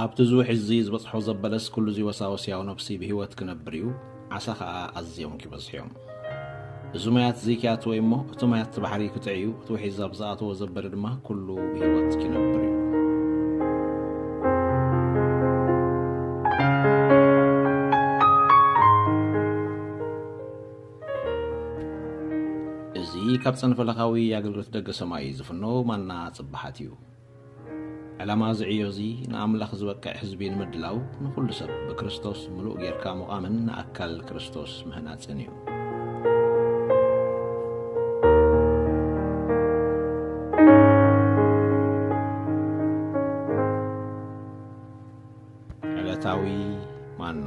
ኣብቲ ዝውሕዝዚ ዝበጽሖ ዘበለስ ኩሉ እዚ ወሳወስ ያው ነብሲ ብህይወት ክነብር እዩ፣ ዓሳ ከኣ ኣዝዮም ኪበዝሑ እዮም። እዚ ማያት እዚ ኪኣትወ እዩ እሞ፣ እቲ ማያት እቲ ባሕሪ ክጥዕ እዩ፣ እቲ ውሒዝ ኣብ ዝኣተዎ ዘበለ ድማ ኩሉ ብህይወት ኪነብር እዩ። እዚ ካብ ጸንፈለኻዊ ኣገልግሎት ደገ ሰማይ ዝፍኖ ማና ጽብሓት እዩ። ዕላማ እዚ ዕዮ እዚ ንኣምላኽ ዝበቅዕ ህዝቢ ንምድላው ንኹሉ ሰብ ብክርስቶስ ምሉእ ጌርካ ምቛምን ንኣካል ክርስቶስ ምህናጽን እዩ። ዕለታዊ ማና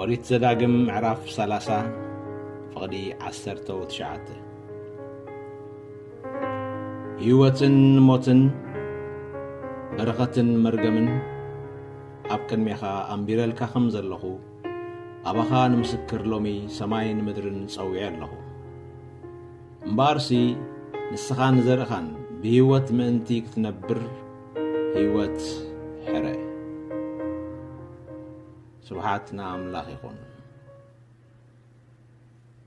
ኦሪት ዘዳግም ምዕራፍ 30 ፍቕዲ 19 ህይወትን ሞትን በረኸትን መርገምን ኣብ ቅድሜኻ ኣንቢረልካ ከም ዘለኹ ኣባኻ ንምስክር ሎሚ ሰማይን ምድርን ጸዊዐ ኣለኹ እምበኣርሲ ንስኻን ዘርእኻን ብህይወት ምእንቲ ክትነብር ሂወት ሕረ ስብሓት ንኣምላኽ ይኹን።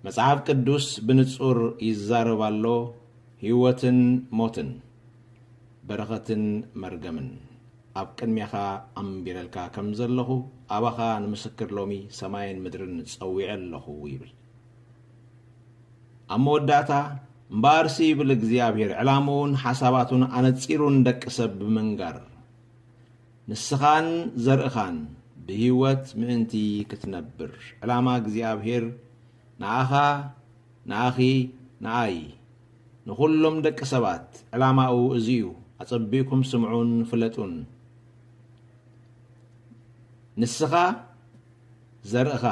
መጽሓፍ ቅዱስ ብንጹር ይዛረብ ኣሎ፣ ህይወትን ሞትን፣ በረኸትን መርገምን ኣብ ቅድሜኻ ኣንቢረልካ ከም ዘለኹ፣ ኣባኻ ንምስክር ሎሚ ሰማይን ምድርን ጸዊዐ ኣለኹ ይብል። ኣብ መወዳእታ እምበኣርሲ ይብል እግዚኣብሔር ዕላምኡን ሓሳባቱን ኣነጺሩ ንደቂ ሰብ ብምንጋር ንስኻን ዘርእኻን ብህይወት ምእንቲ ክትነብር ዕላማ እግዚኣብሔር ንኣኻ ንኣኺ ንኣይ ንዅሎም ደቂ ሰባት ዕላማኡ እዚ እዩ ኣጸቢእኩም ስምዑን ፍለጡን ንስኻ ዘርእኻ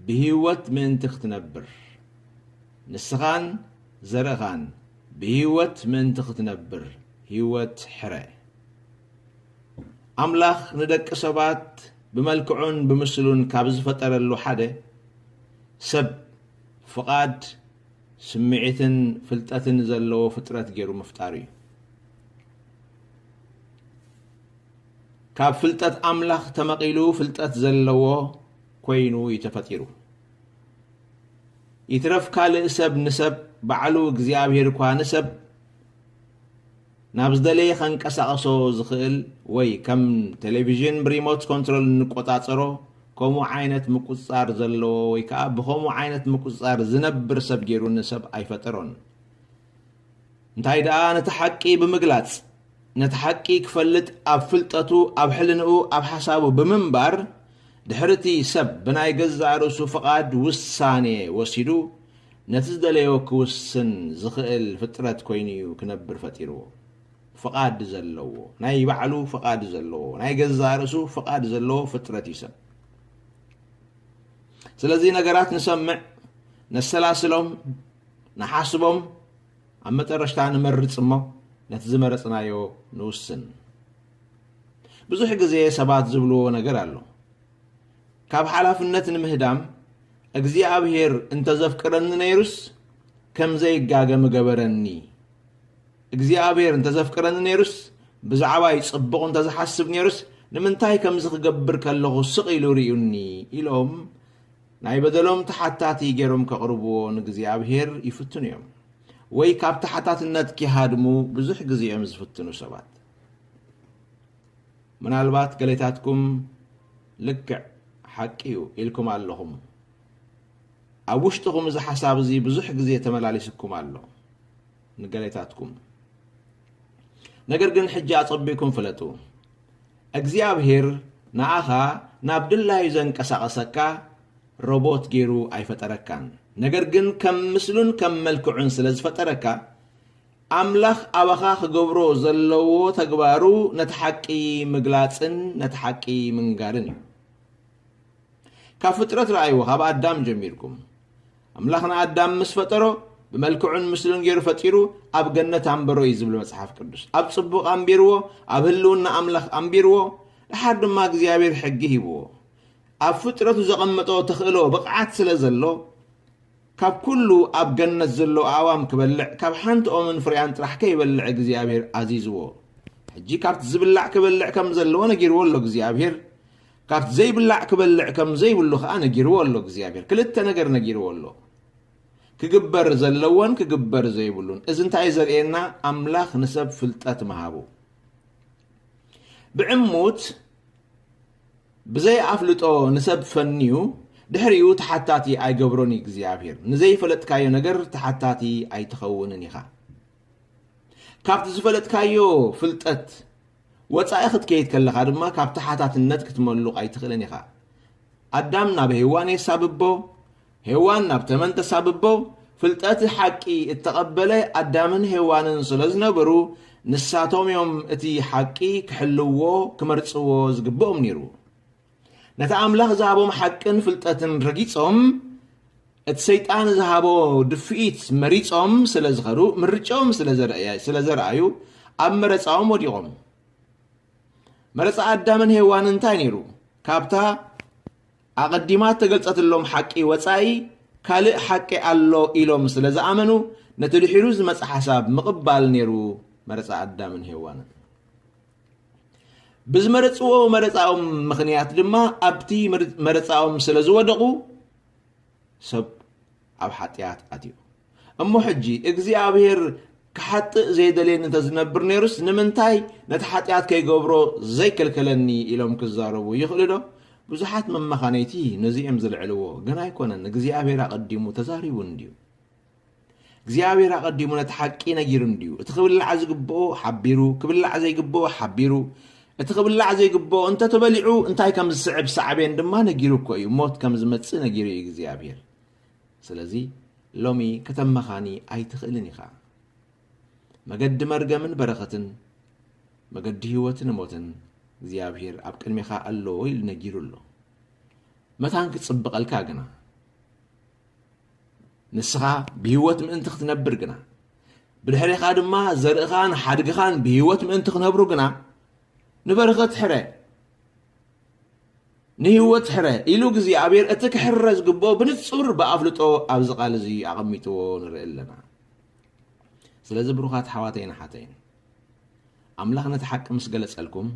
ብህይወት ምእንቲ ኽትነብር። ንስኻን ዘርእኻን ብህይወት ምእንቲ ኽትነብር ህይወት ሕረ። ኣምላኽ ንደቂ ሰባት ብመልክዑን ብምስሉን ካብ ዝፈጠረሉ ሓደ፣ ሰብ ፍቓድ፣ ስምዒትን ፍልጠትን ዘለዎ ፍጥረት ገይሩ ምፍጣሩ እዩ። ካብ ፍልጠት ኣምላኽ ተመቒሉ ፍልጠት ዘለዎ ኮይኑ እዩ ተፈጢሩ። ይትረፍ ካልእ ሰብ ንሰብ ባዕሉ እግዚኣብሄር እኳ ንሰብ ናብ ዝደለየ ከንቀሳቕሶ ዝኽእል ወይ ከም ቴሌቪዥን ብሪሞት ኮንትሮል እንቆጻጸሮ ከምኡ ዓይነት ምቁጽጻር ዘለዎ ወይ ከኣ ብኸምኡ ዓይነት ምቁጽጻር ዝነብር ሰብ ገይሩ ንሰብ ኣይፈጠሮን። እንታይ ደኣ ነቲ ሓቂ ብምግላጽ፣ ነቲ ሓቂ ክፈልጥ ኣብ ፍልጠቱ፣ ኣብ ሕልንኡ፣ ኣብ ሓሳቡ ብምንባር፣ ድሕሪ'ቲ ሰብ ብናይ ገዛእ ርእሱ ፍቓድ ውሳኔ ወሲዱ ነቲ ዝደለዮ ክውስን ዝኽእል ፍጥረት ኮይኑ'ዩ ክነብር ፈጢርዎ። ፍቓድ ዘለዎ፣ ናይ ባዕሉ ፍቓድ ዘለዎ፣ ናይ ገዛእ ርእሱ ፍቓድ ዘለዎ ፍጥረት'ዩ ሰብ። ስለዚ ነገራት ንሰምዕ፣ ነሰላስሎም፣ ንሓስቦም ኣብ መጠረሽታ ንመርጽ እሞ ነቲ ዝመረጽናዮ ንውስን። ብዙሕ ግዜ ሰባት ዝብልዎ ነገር ኣሎ። ካብ ሓላፍነት ንምህዳም እግዚኣብሄር እንተ ዘፍቅረኒ ነይሩስ ከም ዘይጋገ ምገበረኒ። እግዚኣብሄር እንተ ዘፍቅረኒ ነይሩስ ብዛዕባይ ጽቡቕ እንተ ዝሓስብ ነይሩስ ንምንታይ ከምዚ ክገብር ከለኹ ስቕ ኢሉ ርእዩኒ ኢሎም ናይ በደሎም ተሓታቲ ገይሮም ከቕርብዎ ንእግዚኣብሄር ይፍትኑ እዮም። ወይ ካብ ተሓታትነት ኪሃድሙ ብዙሕ ግዜ እዮም ዝፍትኑ ሰባት። ምናልባት ገሌታትኩም ልክዕ ሓቂ እዩ ኢልኩም ኣለኹም። ኣብ ውሽጥኹም እዚ ሓሳብ እዚ ብዙሕ ግዜ ተመላሊስኩም ኣሎ ንገሌታትኩም። ነገር ግን ሕጂ ኣጸቢኩም ፍለጡ። እግዚኣብሄር ንኣኻ ናብ ድላዩ ዘንቀሳቕሰካ ሮቦት ጌሩ ኣይፈጠረካን። ነገር ግን ከም ምስሉን ከም መልክዑን ስለ ዝፈጠረካ፣ ኣምላኽ ኣባኻ ክገብሮ ዘለዎ ተግባሩ ነቲ ሓቂ ምግላጽን ነቲ ሓቂ ምንጋርን እዩ። ካብ ፍጥረት ረኣይዎ ካብ ኣዳም ጀሚርኩም ኣምላኽ ንኣዳም ምስ ፈጠሮ ብመልክዑን ምስሉን ገይሩ ፈጢሩ ኣብ ገነት ኣንበሮ እዩ ዝብል መጽሓፍ ቅዱስ ኣብ ጽቡቕ ኣንቢርዎ ኣብ ህልውና ኣምላኽ ኣንቢርዎ ድሓር ድማ እግዚኣብሔር ሕጊ ሂብዎ ኣብ ፍጥረቱ ዘቐመጦ ተኽእሎ ብቕዓት ስለ ዘሎ ካብ ኩሉ ኣብ ገነት ዘሎ ኣእዋም ክበልዕ ካብ ሓንቲ ኦምን ፍሬያን ጥራሕ ከይበልዕ እግዚኣብሔር ኣዚዝዎ ሕጂ ካብቲ ዝብላዕ ክበልዕ ከም ዘለዎ ነጊርዎ ኣሎ እግዚኣብሔር ካብቲ ዘይብላዕ ክበልዕ ከም ዘይብሉ ከኣ ነጊርዎ ኣሎ እግዚኣብሔር ክልተ ነገር ነጊርዎ ኣሎ ክግበር ዘለዎን ክግበር ዘይብሉን እዚ እንታይ ዘርእየና ኣምላኽ ንሰብ ፍልጠት ምሃቡ ብዕሙት ብዘይኣፍልጦ ንሰብ ፈንዩ ድሕሪኡ ተሓታቲ ኣይገብሮን እዩ እግዚኣብሔር ንዘይፈለጥካዮ ነገር ተሓታቲ ኣይትኸውንን ኢኻ ካብቲ ዝፈለጥካዮ ፍልጠት ወጻኢ ክትከይድ ከለኻ ድማ ካብ ተሓታትነት ክትመሉቕ ኣይትኽእልን ኢኻ። ኣዳም ናብ ሄዋን የሳብቦ፣ ሄዋን ናብ ተመን ተሳብቦ፣ ፍልጠት ሓቂ እተቐበለ ኣዳምን ሄዋንን ስለ ዝነበሩ ንሳቶም እዮም እቲ ሓቂ ክሕልዎ ክመርጽዎ ዝግብኦም ነይሩ። ነቲ ኣምላኽ ዝሃቦም ሓቅን ፍልጠትን ረጊጾም እቲ ሰይጣን ዝሃቦ ድፍኢት መሪጾም ስለ ዝኸዱ ምርጫኦም ስለ ዘርኣዩ ኣብ መረፃኦም ወዲቖም መረፃ ኣዳምን ሄዋን እንታይ ነይሩ ካብታ ኣቐዲማ እተገልጸትሎም ሓቂ ወጻኢ ካልእ ሓቂ ኣሎ ኢሎም ስለ ዝኣመኑ ነቲ ድሒሩ ዝመጽ ሓሳብ ምቕባል ነይሩ መረፃ ኣዳምን ሄዋንን ብዝመረፅዎ መረፃኦም ምኽንያት ድማ ኣብቲ መረፃኦም ስለ ዝወደቑ ሰብ ኣብ ሓጢኣት ኣትዩ እሞ ሕጂ እግዚኣብሔር ክሓጥእ ዘይደልየኒ እንተዝነብር ነይሩስ ንምንታይ ነቲ ሓጢኣት ከይገብሮ ዘይከልከለኒ ኢሎም ክዛረቡ ይኽእሉ ዶ ብዙሓት መመኻነይቲ ነዚ እዮም ዝልዕልዎ ግን ኣይኮነን እግዚኣብሔር ኣቐዲሙ ተዛሪቡ እንድዩ እግዚኣብሔር ኣቐዲሙ ነቲ ሓቂ ነጊሩ እንድዩ። እቲ ክብላዕ ዝግብኦ ሓቢሩ፣ ክብላዕ ዘይግብኦ ሓቢሩ፣ እቲ ክብላዕ ዘይግብኦ እንተ ተበሊዑ እንታይ ከም ዝስዕብ ሳዕቤን ድማ ነጊሩ እኮ እዩ። ሞት ከም ዝመጽእ ነጊሩ እዩ እግዚኣብሔር። ስለዚ ሎሚ ከተመኻኒ ኣይትኽእልን ኢኻ። መገዲ መርገምን በረኸትን መገዲ ህይወትን ሞትን እግዚኣብሔር ኣብ ቅድሜኻ ኣለዎ ኢሉ ነጊሩ ኣሎ። መታን ክጽብቐልካ ግና ንስኻ ብህይወት ምእንቲ ክትነብር ግና ብድሕሪኻ ድማ ዘርእኻን ሓድግኻን ብህይወት ምእንቲ ክነብሩ ግና ንበረኸት ሕረ ንህይወት ሕረ ኢሉ እግዚኣብሔር እቲ ክሕረ ዝግብኦ ብንጹር ብኣፍልጦ ኣብዚ ቃል እዚ ኣቐሚጥዎ ንርኢ ኣለና ስለዚ ብሩኻት ሓዋተይን ሓተይን ኣምላኽ ነቲ ሓቂ ምስ ገለጸልኩም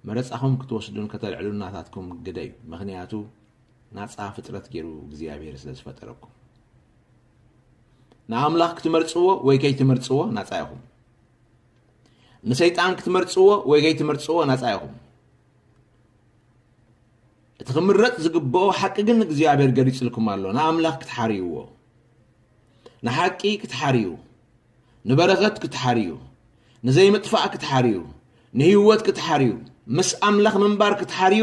መረጻኹም ክትወስዱን ከተልዕሉን ናታትኩም ግደዩ ምኽንያቱ ናጻ ፍጥረት ገይሩ እግዚኣብሔር ስለ ዝፈጠረኩም ንኣምላኽ ክትመርጽዎ ወይ ከይትመርጽዎ ናጻ ኢኹም ንሰይጣን ክትመርጽዎ ወይ ከይትመርጽዎ ናጻ ኢኹም እቲ ክምረፅ ዝግብኦ ሓቂ ግን እግዚኣብሔር ገሊፅልኩም ኣሎ ንኣምላኽ ክትሓርይዎ ንሓቂ ክትሓርዩ ንበረኸት ክትሓርዩ፣ ንዘይምጥፋእ ክትሓርዩ፣ ንህይወት ክትሓርዩ፣ ምስ ኣምላኽ ምንባር ክትሓርዩ፣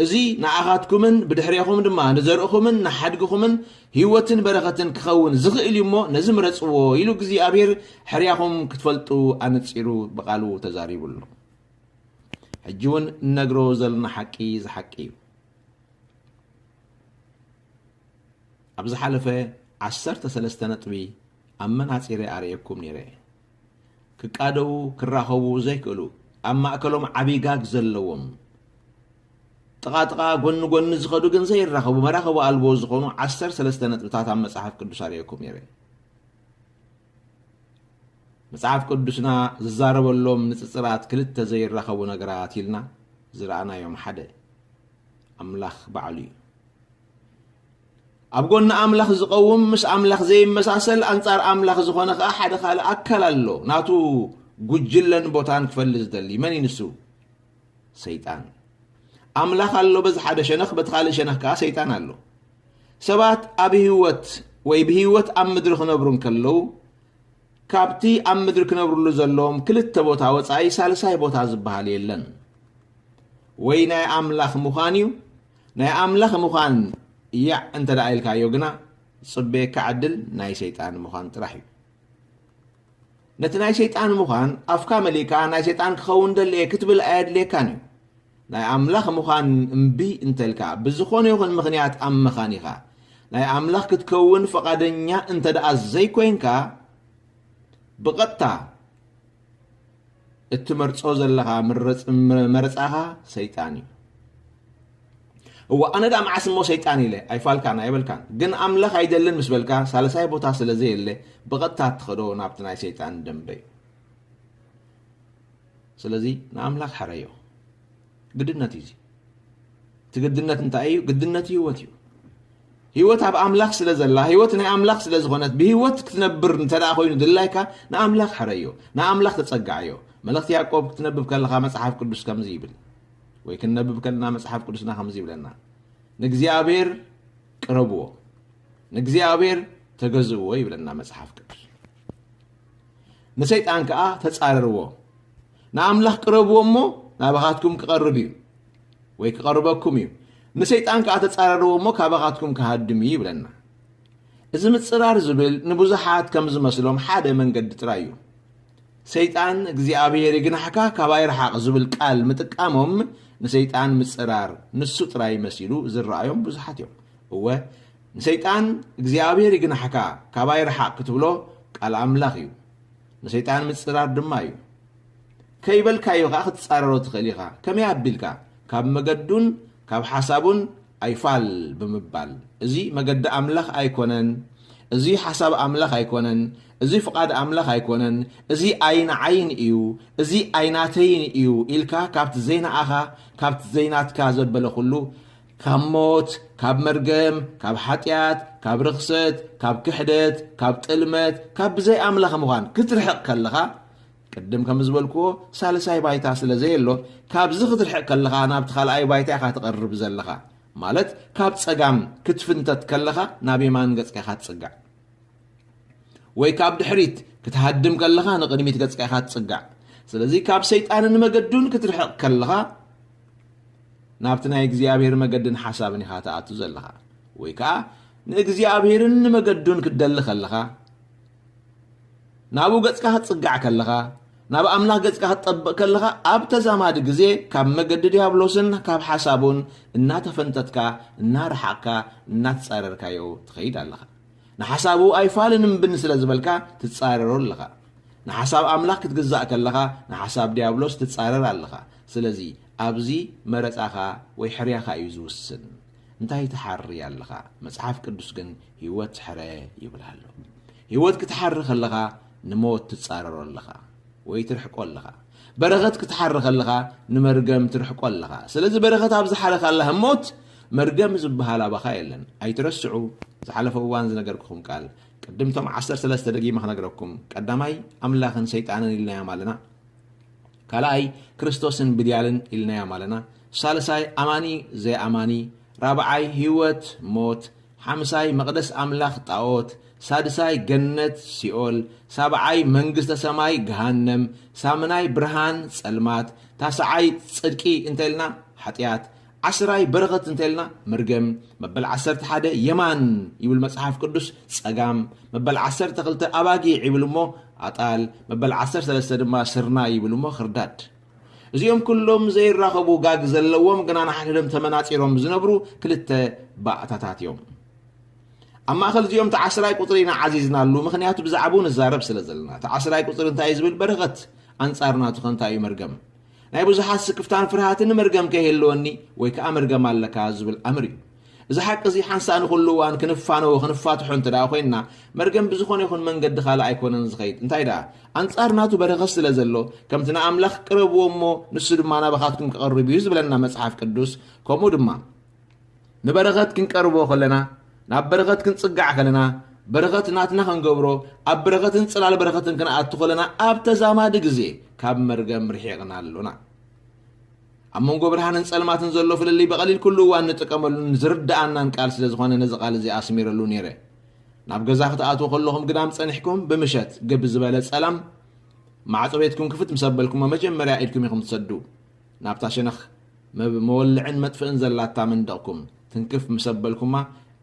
እዚ ንኣኻትኩምን ብድሕሬኹም ድማ ንዘርእኹምን ንሓድግኹምን ህይወትን በረኸትን ክኸውን ዝኽእል እዩ እሞ ነዚ ምረጽዎ ኢሉ እግዚኣብሔር ሕርያኹም ክትፈልጡ ኣነጺሩ ብቓሉ ተዛሪቡ ኣሎ። ሕጂ እውን እነግሮ ዘለና ሓቂ እዚ ሓቂ እዩ። ኣብ ዝሓለፈ ዓሰርተ ሰለስተ ነጥቢ ኣብ መናጺረይ ኣርእየኩም ኔረ ክቃደዉ ክራኸቡ ዘይክእሉ ኣብ ማእከሎም ዓቢ ጋግ ዘለዎም ጥቓ ጥቓ ጎኒ ጎኒ ዝኸዱ ግን ዘይራኸቡ መራኸቡ ኣልቦ ዝኾኑ ዓሰር ሰለስተ ነጥብታት ኣብ መጽሓፍ ቅዱስ ኣርእየኩም ኔረ መጽሓፍ ቅዱስና ዝዛረበሎም ንጽጽራት ክልተ ዘይራኸቡ ነገራት ኢልና ዝረኣናዮም ሓደ ኣምላኽ ባዕሉ እዩ ኣብ ጎኒ ኣምላኽ ዝቐውም ምስ ኣምላኽ ዘይመሳሰል ኣንጻር ኣምላኽ ዝኾነ ከኣ ሓደ ካልእ ኣካል ኣሎ ናቱ ጉጅለን ቦታን ክፈሊ ዝደሊ መን እዩ ንሱ ሰይጣን ኣምላኽ ኣሎ በዚ ሓደ ሸነኽ በቲ ካልእ ሸነኽ ከኣ ሰይጣን ኣሎ ሰባት ኣብ ህይወት ወይ ብህይወት ኣብ ምድሪ ክነብሩ እንከለዉ ካብቲ ኣብ ምድሪ ክነብርሉ ዘለዎም ክልተ ቦታ ወፃኢ ሳልሳይ ቦታ ዝበሃል የለን ወይ ናይ ኣምላኽ ምዃን እዩ ናይ ኣምላኽ ምዃን ያዕ እንተ ደኣ ኢልካዮ ግና ዝጽበየካ ዕድል ናይ ሰይጣን ምዃን ጥራሕ እዩ። ነቲ ናይ ሰይጣን ምዃን ኣፍካ መሊእካ ናይ ሰይጣን ክኸውን ደሊ እየ ክትብል ኣየድልየካን እዩ። ናይ ኣምላኽ ምዃን እምቢ እንተ ኢልካ ብዝኾነ ይኹን ምኽንያት ኣብ መኻኒኻ ናይ ኣምላኽ ክትከውን ፍቓደኛ እንተ ደኣ ዘይኮይንካ ብቐጥታ እትመርጾ ዘለኻ መረጻኻ ሰይጣን እዩ እወ ኣነ ዳ መዓስ እሞ ሰይጣን ኢለ ኣይፋልካን ኣይበልካን ግን ኣምላኽ ኣይደልን ምስ በልካ ሳልሳይ ቦታ ስለ ዘየለ ብቐጥታ እትኸዶ ናብቲ ናይ ሰይጣን ደንበ እዩ ስለዚ ንኣምላኽ ሕረዮ ግድነት እዩ እዚ እቲ ግድነት እንታይ እዩ ግድነት ህይወት እዩ ህይወት ኣብ ኣምላኽ ስለ ዘላ ህይወት ናይ ኣምላኽ ስለ ዝኾነት ብህይወት ክትነብር እንተ ኮይኑ ድላይካ ንኣምላኽ ሕረዮ ንኣምላኽ ተጸጋዓዮ መልእኽቲ ያዕቆብ ክትነብብ ከለኻ መጽሓፍ ቅዱስ ከምዚ ይብል ወይ ክንነብብ ከለና መጽሓፍ ቅዱስና ከምዚ ይብለና ንእግዚኣብሔር ቅረብዎ ንእግዚኣብሔር ተገዝእዎ ይብለና መጽሓፍ ቅዱስ ንሰይጣን ከዓ ተጻረርዎ ንኣምላኽ ቅረብዎ እሞ ናባኻትኩም ክቐርብ እዩ ወይ ክቐርበኩም እዩ ንሰይጣን ከዓ ተፃረርዎ እሞ ካባኻትኩም ክሃድም እዩ ይብለና እዚ ምፅራር ዝብል ንብዙሓት ከም ዝመስሎም ሓደ መንገዲ ጥራይ እዩ ሰይጣን እግዚኣብሔር ይግናሕካ ካባይ ረሓቕ ዝብል ቃል ምጥቃሞም ንሰይጣን ምፅራር ንሱ ጥራይ መሲሉ ዝረኣዮም ብዙሓት እዮም እወ ንሰይጣን እግዚኣብሔር ይግናሕካ ካባይ ረሓቕ ክትብሎ ቃል ኣምላኽ እዩ ንሰይጣን ምጽራር ድማ እዩ። ከይበልካዮ ከኣ ክትጻረሮ ትኽእል ኢኻ። ከመይ ኣቢልካ? ካብ መገዱን ካብ ሓሳቡን ኣይፋል ብምባል፣ እዚ መገዲ ኣምላኽ ኣይኮነን፣ እዚ ሓሳብ ኣምላኽ ኣይኮነን፣ እዚ ፍቓድ ኣምላኽ ኣይኮነን፣ እዚ ኣይንዓይን እዩ፣ እዚ ኣይናተይን እዩ ኢልካ ካብቲ ዘይንኣኻ ካብቲ ዘይናትካ ዘበለ ኩሉ ካብ ሞት፣ ካብ መርገም፣ ካብ ሓጢኣት፣ ካብ ርኽሰት፣ ካብ ክሕደት፣ ካብ ጥልመት፣ ካብ ብዘይ ኣምላኽ ምዃን ክትርሕቕ ከለኻ ቅድም ከም ዝበልክዎ ሳልሳይ ባይታ ስለ ዘየሎ ካብዚ ክትርሕቕ ከለኻ ናብቲ ካልኣይ ባይታ ኢኻ ትቐርብ ዘለኻ ማለት ካብ ጸጋም ክትፍንተት ከለኻ ናብ የማን ገጽካ ኢኻ ትጽጋዕ ወይ ካብ ድሕሪት ክትሃድም ከለኻ ንቕድሚት ገጽካ ኢኻ ትጽጋዕ ስለዚ ካብ ሰይጣንን መገዱን ክትርሕቕ ከለኻ ናብቲ ናይ እግዚኣብሔር መገድን ሓሳብን ኢኻ ትኣቱ ዘለኻ ወይ ከዓ ንእግዚኣብሔርን ንመገዱን ክትደሊ ከለኻ ናብኡ ገጽካ ክትጽጋዕ ከለኻ ናብ ኣምላኽ ገጽካ ክትጠብቕ ከለኻ ኣብ ተዛማዲ ግዜ ካብ መገዲ ዲያብሎስን ካብ ሓሳቡን እናተፈንተትካ እናረሓቕካ እናትጻረርካዮ ትኸይድ ኣለኻ ንሓሳቡ ኣይፋልን እምብን ስለ ዝበልካ ትጻረሮ ኣለኻ። ንሓሳብ ኣምላኽ ክትግዛእ ከለኻ ንሓሳብ ድያብሎስ ትጻረር ኣለኻ። ስለዚ ኣብዚ መረጻኻ ወይ ሕርያኻ እዩ ዝውስን። እንታይ ትሓሪ ኣለኻ? መጽሓፍ ቅዱስ ግን ህይወት ሕረ ይብል ኣሎ። ህይወት ክትሓሪ ከለኻ ንሞት ትጻረሮ ኣለኻ። ወይ ትርሕቆ ኣለኻ በረኸት ክትሓሪ ከለኻ ንመርገም ትርሕቆ ኣለኻ ስለዚ በረኸት ኣብ ዝሓረካላ ህሞት መርገም ዝበሃል ኣባኻ የለን ኣይትረስዑ ዝሓለፈ እዋን ዝነገርኩኹም ቃል ቅድም ቶም ዓሰርተ ሰለስተ ደጊመ ክነግረኩም ቀዳማይ ኣምላኽን ሰይጣንን ኢልናዮም ኣለና ካልኣይ ክርስቶስን ብድያልን ኢልናዮም ኣለና ሳልሳይ ኣማኒ ዘይኣማኒ ራብዓይ ህይወት ሞት ሓምሳይ መቕደስ ኣምላኽ ጣኦት ሳድሳይ ገነት ሲኦል ሳብዓይ መንግስተ ሰማይ ገሃነም ሳምናይ ብርሃን ጸልማት ታስዓይ ጽድቂ እንተልና ሓጥያት ዓስራይ በረኸት እንተልና መርገም መበል ዓሰርተ ሓደ የማን ይብል መጽሓፍ ቅዱስ ጸጋም መበል ዓሰርተ ክልተ ኣባጊዕ ይብል እሞ ኣጣል መበል ዓሰርተ ሰለስተ ድማ ስርናይ ይብል እሞ ክርዳድ እዚኦም ኩሎም ዘይራኸቡ ጋግ ዘለዎም ግና ንሓድሕዶም ተመናጺሮም ዝነብሩ ክልተ ባእታታት እዮም። ኣብ ማእኸል እዚኦም እቲ ዓስራይ ቁፅሪ ኢና ዓዚዝናሉ፣ ምክንያቱ ብዛዕባኡ ንዛረብ ስለ ዘለና። እቲ ዓስራይ ቁፅሪ እንታይ እዩ ዝብል በረኸት ኣንጻር ናቱ ከ እንታይ እዩ መርገም? ናይ ብዙሓት ስክፍታን ፍርሃትን መርገም ከይህልወኒ ወይ ከዓ መርገም ኣለካ ዝብል ኣምር እዩ። እዚ ሓቂ እዚ ሓንሳእ ንኹሉ እዋን ክንፋነዎ ክንፋትሖ እንተ ደኣ ኮይንና፣ መርገም ብዝኾነ ይኹን መንገዲ ካልእ ኣይኮነን ዝኸይድ። እንታይ ደኣ፣ ኣንጻር ናቱ በረኸት ስለ ዘሎ፣ ከምቲ ንኣምላኽ ቅረብዎ እሞ ንሱ ድማ ናባኻትኩም ክቐርብ እዩ ዝብለና መጽሓፍ ቅዱስ፣ ከምኡ ድማ ንበረኸት ክንቀርቦ ከለና፣ ናብ በረኸት ክንጽጋዕ ከለና፣ በረኸት ናትና ክንገብሮ፣ ኣብ በረኸትን ጽላል በረኸትን ክንኣቱ ከለና፣ ኣብ ተዛማዲ ግዜ ካብ መርገም ርሒቕና ኣሎና። ኣብ መንጎ ብርሃንን ጸልማትን ዘሎ ፍልልይ ብቐሊል ኩሉ እዋን ንጥቀመሉን ዝርድኣናን ቃል ስለ ዝኾነ ነዚ ቃል እዚ ኣስሚረሉ ነይረ። ናብ ገዛ ክትኣትዉ ከለኹም ግዳም ጸኒሕኩም ብምሸት ግብ ዝበለ ጸላም ማዕጾ ቤትኩም ክፍት ምስ ኣበልኩሞ መጀመርያ ኢድኩም ኢኹም ትሰዱ። ናብታ ሸነኽ መወልዕን መጥፍእን ዘላታ መንደቕኩም ትንክፍ ምስ ኣበልኩማ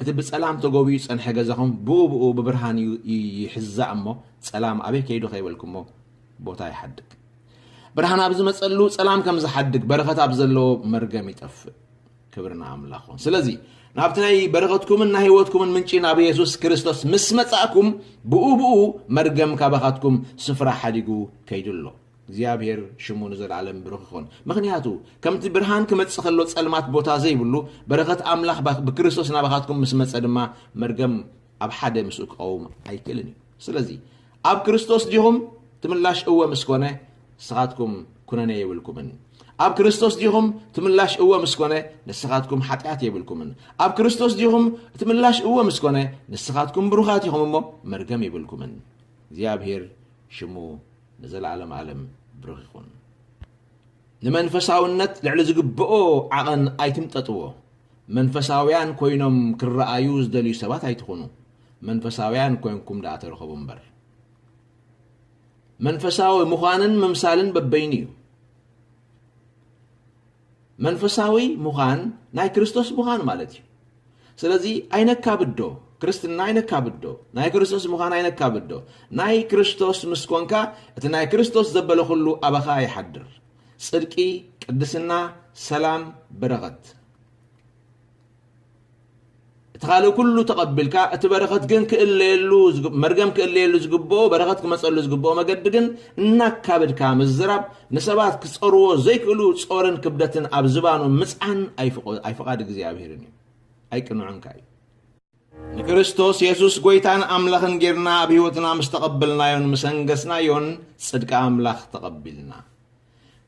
እቲ ብጸላም ተጎብዩ ዝጸንሐ ገዛኹም ብኡ ብኡ ብብርሃን ይሕዛእ እሞ ጸላም ኣበይ ከይዱ ከይበልኩሞ ቦታ ይሓድግ። ብርሃን ኣብ ዝመፀሉ ፀላም ከም ዝሓድግ በረኸት ኣብ ዘለዎ መርገም ይጠፍእ ክብሪ ንኣምላኽ ኹን ስለዚ ናብቲ ናይ በረኸትኩምን ናይ ህይወትኩምን ምንጪ ናብ የሱስ ክርስቶስ ምስ መጻእኩም ብኡ ብኡ መርገም ካባኻትኩም ስፍራ ሓዲጉ ከይዱ ኣሎ እግዚኣብሔር ሽሙ ንዘለዓለም ብሩኽ ይኹን ምክንያቱ ከምቲ ብርሃን ክመጽእ ከሎ ጸልማት ቦታ ዘይብሉ በረኸት ኣምላኽ ብክርስቶስ ናባኻትኩም ምስ መጸ ድማ መርገም ኣብ ሓደ ምስኡ ክቐውም ኣይክእልን እዩ ስለዚ ኣብ ክርስቶስ ዲኹም? እቲ ምላሽ እወ ምስ ኮነ፣ ንስኻትኩም ኩነኔ የብልኩምን። ኣብ ክርስቶስ ዲኹም? እቲ ምላሽ እወ ምስ ኮነ፣ ንስኻትኩም ሓጢኣት የብልኩምን። ኣብ ክርስቶስ ዲኹም? እቲ ምላሽ እወ ምስ ኮነ፣ ንስኻትኩም ብሩኻት ኢኹም እሞ መርገም የብልኩምን። እግዚኣብሄር ሽሙ ንዘለኣለም ኣለም ብሩኽ ይኹን። ንመንፈሳውነት ልዕሊ ዝግብኦ ዓቐን ኣይትምጠጥዎ። መንፈሳውያን ኮይኖም ክረኣዩ ዝደልዩ ሰባት ኣይትኹኑ። መንፈሳውያን ኮንኩም ደኣ ተረኸቡ እምበር። መንፈሳዊ ምዃንን ምምሳልን በበይኑ እዩ። መንፈሳዊ ምዃን ናይ ክርስቶስ ምዃን ማለት እዩ ስለዚ ኣይነካብዶ ክርስትና ኣይነካብዶ ናይ ክርስቶስ ምዃን ኣይነካብዶ ናይ ክርስቶስ ምስ ኮንካ እቲ ናይ ክርስቶስ ዘበለ ኩሉ ኣባኻ ይሓድር ፅድቂ ቅድስና ሰላም በረኸት እቲ ካልእ ኩሉ ተቐቢልካ እቲ በረኸት ግን ክእለየሉ መርገም ክእለየሉ ዝግብኦ በረኸት ክመጸሉ ዝግብኦ መገዲ ግን እናካበድካ ምዝራብ ንሰባት ክጸርዎ ዘይክእሉ ጾርን ክብደትን ኣብ ዝባኖም ምጽዓን ኣይፍቓድ እግዚኣብሔርን እዩ ኣይቅንዑን ከ እዩ ንክርስቶስ የሱስ ጎይታን ኣምላኽን ጌርና ኣብ ህይወትና ምስ ተቐበልናዮን ምስ ኣንገስናዮን ጽድቂ ኣምላኽ ተቐቢልና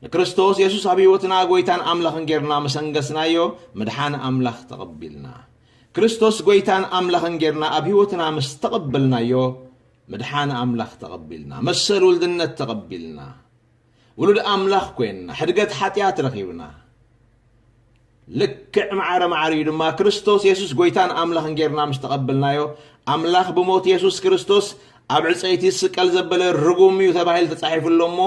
ንክርስቶስ የሱስ ኣብ ህይወትና ጎይታን ኣምላኽን ጌርና ምስ ኣንገስናዮ ምድሓን ኣምላኽ ተቐቢልና። ክርስቶስ ጎይታን ኣምላኽን ጌርና ኣብ ህይወትና ምስ ተቐበልናዮ ምድሓን ኣምላኽ ተቐቢልና። መሰል ውልድነት ተቐቢልና። ውሉድ ኣምላኽ ኮይንና። ሕድገት ሓጢኣት ረኺብና። ልክዕ ማዕረ ማዕረ እዩ ድማ ክርስቶስ የሱስ ጎይታን ኣምላኽን ጌርና ምስ ተቐበልናዮ ኣምላኽ ብሞት የሱስ ክርስቶስ ኣብ ዕፀይቲ ስቀል ዘበለ ርጉም እዩ ተባሂሉ ተጻሒፉ ኣሎ እሞ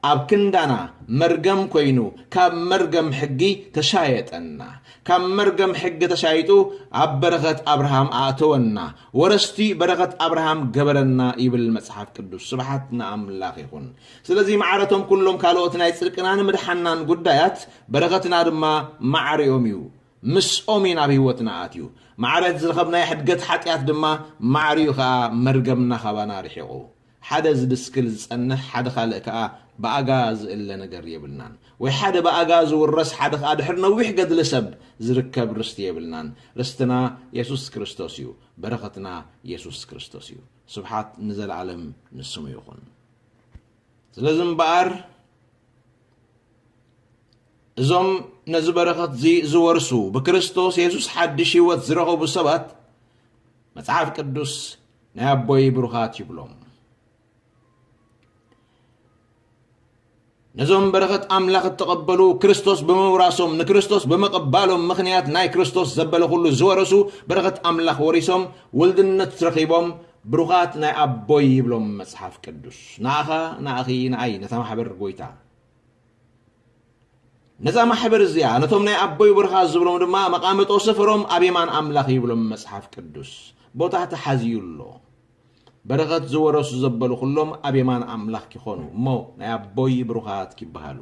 ኣብ ክንዳና መርገም ኮይኑ ካብ መርገም ሕጊ ተሻየጠና ካብ መርገም ሕጊ ተሻይጡ ኣብ በረኸት ኣብርሃም ኣእተወና ወረስቲ በረኸት ኣብርሃም ገበረና ይብል መጽሓፍ ቅዱስ ስብሓት ንኣምላኽ ይኹን ስለዚ ማዕረ እቶም ኩሎም ካልኦት ናይ ጽድቅናን ምድሓንናን ጉዳያት፣ በረኸትና ድማ ማዕሪኦም እዩ። ምስኦም እዩ ናብ ህይወትና ኣትዩ። ማዕረ እቲ ዝረኸብናዮ ሕድገት ሓጢኣት ድማ ማዕሪኡ ከኣ መርገምና ካባና ርሒቑ። ሓደ ዝድስክል ዝጸንሕ ሓደ ካልእ ከኣ ብኣጋ ዝእለ ነገር የብልናን። ወይ ሓደ ብኣጋ ዝውረስ ሓደ ከኣ ድሕሪ ነዊሕ ገድሊ ሰብ ዝርከብ ርስቲ የብልናን። ርስትና የሱስ ክርስቶስ እዩ። በረኸትና የሱስ ክርስቶስ እዩ። ስብሓት ንዘለኣለም ንስሙ ይኹን። ስለዚ እምበኣር እዞም ነዚ በረኸት እዚ ዝወርሱ ብክርስቶስ የሱስ ሓድሽ ህይወት ዝረኸቡ ሰባት መጽሓፍ ቅዱስ ናይ ኣቦይ ብሩኻት ይብሎም ነዞም በረኸት ኣምላኽ እተቐበሉ ክርስቶስ ብምውራሶም ንክርስቶስ ብምቕባሎም ምኽንያት ናይ ክርስቶስ ዘበለ ኩሉ ዝወረሱ በረኸት ኣምላኽ ወሪሶም ውልድነት ረኺቦም ብሩኻት ናይ ኣቦይ ይብሎም መጽሓፍ ቅዱስ ንኣኻ ንኣኺ ንኣይ ነታ ማሕበር ጎይታ ነዛ ማሕበር እዚኣ ነቶም ናይ ኣቦይ ብርኻ ዝብሎም ድማ መቓመጦ ስፍሮም ኣብ የማን ኣምላኽ ይብሎም መጽሓፍ ቅዱስ ቦታ ተሓዝዩ ኣሎ በረኸት ዝወረሱ ዘበሉ ኩሎም ኣብ የማን ኣምላኽ ኪኾኑ እሞ ናይ ኣቦይ ብሩኻት ኪበሃሉ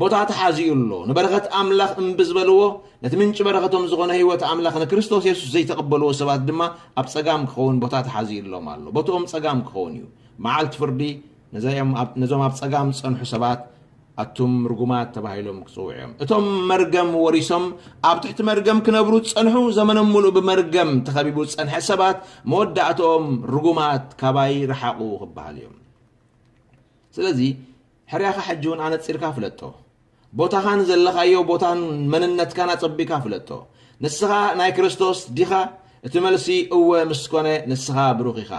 ቦታ ተሓዚኡ ኣሎ። ንበረኸት ኣምላኽ እምቢ ዝበልዎ ነቲ ምንጪ በረኸቶም ዝኾነ ህይወት ኣምላኽ ንክርስቶስ የሱስ ዘይተቐበልዎ ሰባት ድማ ኣብ ጸጋም ክኸውን ቦታ ተሓዚኡሎም ኣሎ። ቦትኦም ጸጋም ክኸውን እዩ። መዓልቲ ፍርዲ ነዞም ኣብ ጸጋም ዝጸንሑ ሰባት ኣቱም ርጉማት ተባሂሎም ክጽውዑ እዮም። እቶም መርገም ወሪሶም ኣብ ትሕቲ መርገም ክነብሩ ዝጸንሑ ዘመኖም ምሉእ ብመርገም ተኸቢቡ ዝጸንሐ ሰባት መወዳእትኦም ርጉማት ካባይ ረሓቑ ክበሃሉ እዮም። ስለዚ ሕርያኻ ሕጂ እውን ኣነጺርካ ፍለጦ። ቦታኻን ዘለኻዮ ቦታን መንነትካን ኣጸቢካ ፍለጦ። ንስኻ ናይ ክርስቶስ ዲኻ? እቲ መልሲ እወ ምስ ኮነ ንስኻ ብሩኽ ኢኻ።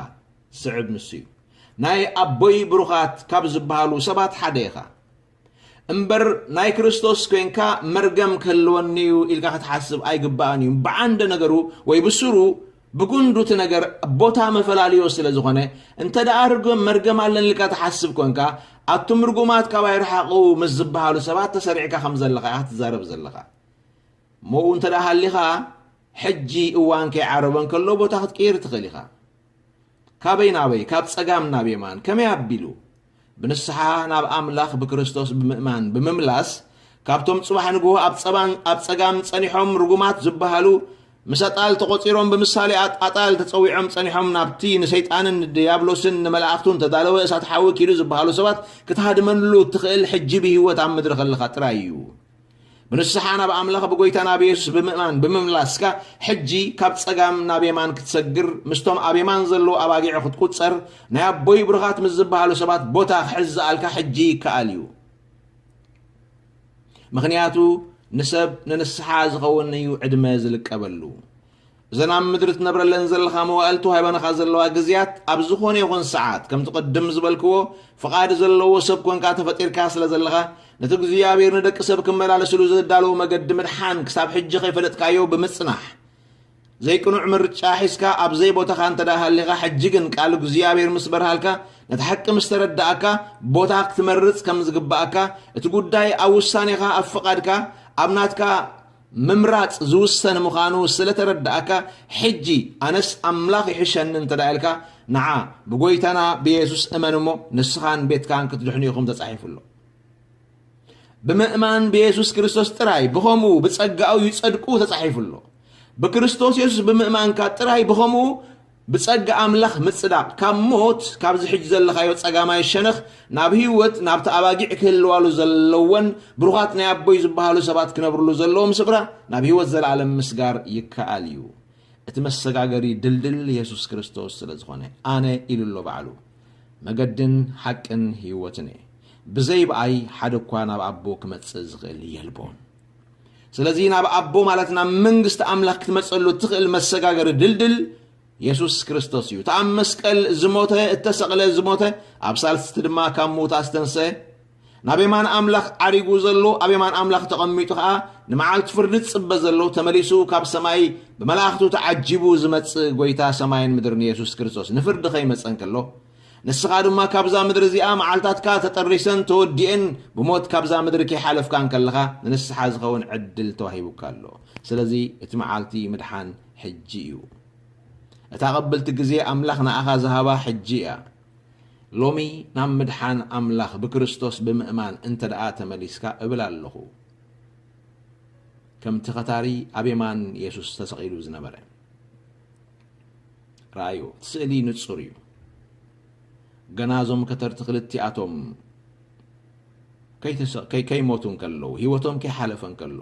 ዝስዕብ ንሱ እዩ። ናይ ኣቦይ ብሩኻት ካብ ዝበሃሉ ሰባት ሓደ ኢኻ እምበር ናይ ክርስቶስ ኮይንካ መርገም ክህልወኒ እዩ ኢልካ ክትሓስብ ኣይግባእን እዩ። ብዓንደ ነገሩ ወይ ብስሩ ብጉንዱ እቲ ነገር ቦታ መፈላልዮ ስለ ዝኾነ እንተ ደኣ ርግም መርገም ኣለኒ ኢልካ ትሓስብ ኮንካ ኣቱም ርጉማት ካባይ ርሓቑ ምስ ዝበሃሉ ሰባት ተሰሪዕካ ከም ዘለኻ ኢኻ ትዛረብ ዘለኻ እሞኡ እንተ ደኣ ሃሊኻ ሕጂ እዋን ከይዓረበ እንከሎ ቦታ ክትቅይር ትኽእል ኢኻ። ካበይ ናበይ? ካብ ጸጋም ናብ የማን። ከመይ ኣቢሉ? ብንስሓ ናብ ኣምላኽ ብክርስቶስ ብምእማን ብምምላስ ካብቶም ጽባሕ ንግሆ ኣብ ጸባን ኣብ ጸጋም ጸኒሖም ርጉማት ዝበሃሉ ምስ ኣጣል ተቖጺሮም ብምሳሌ ኣጣል ተጸዊዖም ጸኒሖም ናብቲ ንሰይጣንን ንድያብሎስን ንመላእኽቱን ተዳለወ እሳት ሓዊ ኪዱ ዝበሃሉ ሰባት ክትሃድመሉ እትኽእል ሕጂ ብህይወት ኣብ ምድሪ ከለኻ ጥራይ እዩ። ብንስሓ ናብ ኣምላኽ ብጎይታ ናብ የሱስ ብምእማን ብምምላስካ ሕጂ ካብ ጸጋም ናብ የማን ክትሰግር ምስቶም ኣብ የማን ዘለዉ ኣባጊዑ ክትቁጸር ናይ ኣቦይ ብሩኻት ምስ ዝበሃሉ ሰባት ቦታ ክሕዝ ዝኣልካ ሕጂ ይከኣል እዩ ምክንያቱ ንሰብ ንንስሓ ዝኸውን እዩ ዕድመ ዝልቀበሉ እዘን ኣብ ምድሪ ትነብረለን ዘለኻ መዋእል ተዋሂበናኻ ዘለዋ ግዝያት ኣብ ዝኾነ ይኹን ሰዓት ከምቲ ቅድም ዝበልክዎ ፍቓድ ዘለዎ ሰብ ኮንካ ተፈጢርካ ስለ ዘለኻ ነቲ እግዚኣብሔር ንደቂ ሰብ ክመላለስሉ ዘዳለዎ መገዲ ምድሓን ክሳብ ሕጂ ከይፈለጥካዮ ብምጽናሕ ዘይቅኑዕ ምርጫ ሒዝካ ኣብ ዘይቦታኻ እንተ ደኣ ሃሊኻ ሕጂ ግን ቃል እግዚኣብሔር ምስ በርሃልካ ነቲ ሓቂ ምስ ተረዳእካ ቦታ ክትመርጽ ከም ዝግባእካ እቲ ጉዳይ ኣብ ውሳኔኻ ኣብ ፍቓድካ ኣብ ናትካ ምምራጽ ዝውሰን ምኻኑ ስለ ተረዳኣካ ሕጂ ኣነስ ኣምላኽ ይሕሸኒ እንተ ኢልካ ንዓ ብጎይታና ብየሱስ እመን እሞ ንስኻን ቤትካን ክትድሕኑ ኢኹም ተጻሒፉ ኣሎ። ብምእማን ብየሱስ ክርስቶስ ጥራይ ብኸምኡ ብጸጋኡ ይጸድቁ ተጻሒፉ ኣሎ። ብክርስቶስ የሱስ ብምእማንካ ጥራይ ብኸምኡ ብጸጋ ኣምላኽ ምጽዳቕ፣ ካብ ሞት፣ ካብዚ ሕጂ ዘለኻዮ ጸጋማይ ሸነኽ፣ ናብ ህይወት፣ ናብቲ ኣባጊዕ ክህልዋሉ ዘለወን፣ ብሩኻት ናይ ኣቦይ ዝበሃሉ ሰባት ክነብርሉ ዘለዎም ስፍራ፣ ናብ ህይወት ዘለኣለም ምስጋር ይከኣል እዩ። እቲ መሰጋገሪ ድልድል የሱስ ክርስቶስ ስለ ዝኾነ፣ ኣነ ኢሉ ኣሎ ባዕሉ፣ መገድን ሓቅን ህይወትን እየ። ብዘይ ብኣይ ሓደ እኳ ናብ ኣቦ ክመጽእ ዝኽእል የልቦን። ስለዚ ናብ ኣቦ ማለት ናብ መንግስቲ ኣምላኽ ክትመጸሉ እትኽእል መሰጋገሪ ድልድል የሱስ ክርስቶስ እዩ። እቲ ኣብ መስቀል ዝሞተ፣ እተሰቕለ፣ ዝሞተ፣ ኣብ ሳልስቲ ድማ ካብ ምዉታት ዝተንስአ፣ ናብ የማን ኣምላኽ ዓሪጉ ዘሎ፣ ኣብ የማን ኣምላኽ ተቐሚጡ ኸኣ ንመዓልቲ ፍርዲ ዝጽበ ዘሎ፣ ተመሊሱ ካብ ሰማይ ብመላእኽቱ ተዓጂቡ ዝመጽእ ጐይታ ሰማይን ምድርን የሱስ ክርስቶስ ንፍርዲ ኸይመጸ እንከሎ ንስኻ ድማ ካብዛ ምድሪ እዚኣ መዓልታትካ ተጠሪሰን ተወዲኤን ብሞት ካብዛ ምድሪ ከይሓለፍካ እንከለኻ ንንስሓ ዝኸውን ዕድል ተዋሂቡካ ኣሎ። ስለዚ እቲ መዓልቲ ምድሓን ሕጂ እዩ። እታ ቅብልቲ ግዜ ኣምላኽ ንኣኻ ዝሃባ ሕጂ እያ። ሎሚ ናብ ምድሓን ኣምላኽ ብክርስቶስ ብምእማን እንተደኣ ተመሊስካ እብል ኣለኹ ከምቲ ከታሪ ኣብ የማን የሱስ ተሰቒሉ ዝነበረ ርኣዩ እቲ ስእሊ ንጹር እዩ። ገና እዞም ከተርቲ ክልቲኣቶም ከይሞቱ እንከለዉ ህይወቶም ከይሓለፈ እንከሎ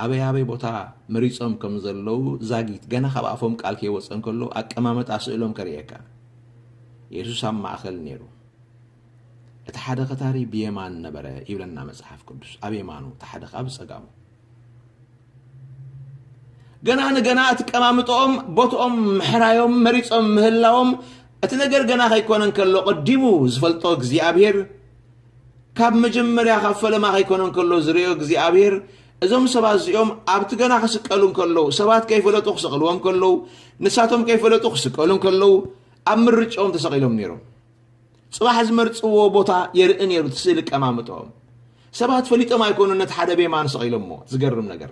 ኣበይ ኣበይ ቦታ መሪጾም ከም ዘለዉ ዛጊት ገና ካብ ኣፎም ቃል ከይወፀ እንከሎ ኣቀማመጣ ስእሎም ከርእየካ የሱስ ኣብ ማእኸል ነይሩ እቲ ሓደ ከታሪ ብየማን ነበረ ይብለና መጽሓፍ ቅዱስ ኣብ የማኑ እቲ ሓደ ከዓ ብጸጋሙ ገና ንገና እቲ ቀማምጦኦም ቦትኦም ምሕራዮም መሪጾም ምህላዎም እቲ ነገር ገና ከይኮነ እንከሎ ቀዲሙ ዝፈልጦ እግዚኣብሄር ካብ መጀመርያ ካብ ፈለማ ከይኮነ እንከሎ ዝርዮ እግዚኣብሄር እዞም ሰባት እዚኦም ኣብቲ ገና ክስቀሉ እንከለዉ ሰባት ከይፈለጡ ክሰቕልዎም ከለዉ ንሳቶም ከይፈለጡ ክስቀሉ እንከለዉ ኣብ ምርጭኦም ተሰቒሎም ነይሮም ጽባሕ ዝመርጽዎ ቦታ የርኢ ነይሩ እቲ ስእሊ ቀማምጦኦም ሰባት ፈሊጦም ኣይኮኑ ነቲ ሓደ ብየማን ሰቂሎሞ ዝገርም ነገር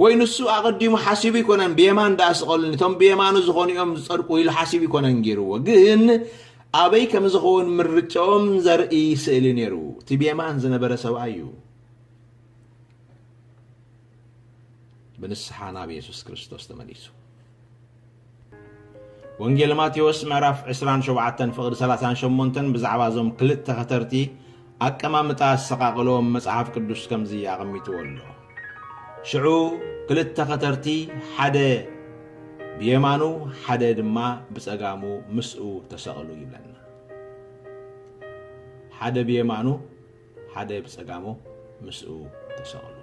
ወይ ንሱ ኣቐዲሙ ሓሲቡ ይኮነን ብየማን ደኣ ስቐሉኒ እቶም ብየማኑ ዝኾኑ እዮም ዝጸድቁ ኢሉ ሓሲቡ ይኮነን ገይርዎ ግን ኣበይ ከም ዝኸውን ምርጫኦም ዘርኢ ስእሊ ነይሩ እቲ ብየማን ዝነበረ ሰብኣይ እዩ ብንስሓ ናብ የሱስ ክርስቶስ ተመሊሱ። ወንጌል ማቴዎስ ምዕራፍ 27 ፍቕዲ 38 ብዛዕባ እዞም ክልተ ኸተርቲ ኣቀማምጣ ኣሰቓቕሎም መጽሓፍ ቅዱስ ከምዚ ኣቐሚጥዎ ኣሎ። ሽዑ ክልተ ኸተርቲ ሓደ ብየማኑ ሓደ ድማ ብጸጋሙ ምስኡ ተሰቕሉ ይብለና። ሓደ ብየማኑ ሓደ ብጸጋሙ ምስኡ ተሰቕሉ።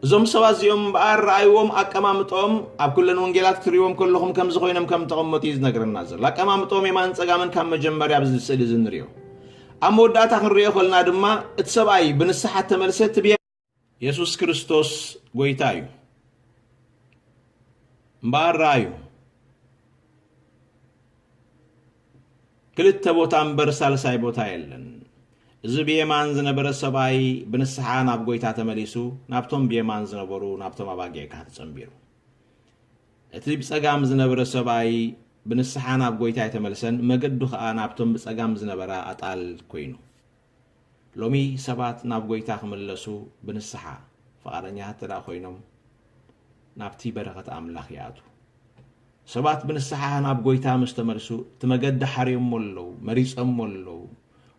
እዞም ሰባት እዚኦም እምበኣር ረኣይዎም ኣቀማምጦም ኣብ ኩለን ወንጌላት ክትሪእዎም ከለኹም ከምዚ ኮይኖም ከም ተቐመጡ እዩ ዝነግረና ዘሎ ኣቀማምጦም የማን ፀጋምን ካብ መጀመርያ ኣብዚ ስእሊ እዚ ንሪኦ ኣብ መወዳእታ ክንሪኦ ከለና ድማ እቲ ሰብኣይ ብንስሓ ተመልሰ እቲ የሱስ ክርስቶስ ጎይታ እዩ እምበኣር ረኣዩ ክልተ ቦታ እምበር ሳልሳይ ቦታ የለን እዚ ብየማን ዝነበረ ሰብኣይ ብንስሓ ናብ ጎይታ ተመሊሱ ናብቶም ብየማን ዝነበሩ ናብቶም ኣባጊዕ ካህን ተጸንቢሩ እቲ ብጸጋም ዝነበረ ሰብኣይ ብንስሓ ናብ ጎይታ ኣይተመልሰን መገዱ ከኣ ናብቶም ብጸጋም ዝነበራ ኣጣል ኮይኑ ሎሚ ሰባት ናብ ጎይታ ክምለሱ ብንስሓ ፍቓደኛታት እንተድኣ ኮይኖም ናብቲ በረኸት ኣምላኽ ይኣትዉ። ሰባት ብንስሓ ናብ ጎይታ ምስ ተመልሱ እቲ መገዲ ሓርዮሞ ኣለዉ፣ መሪጸሞ ኣለዉ፣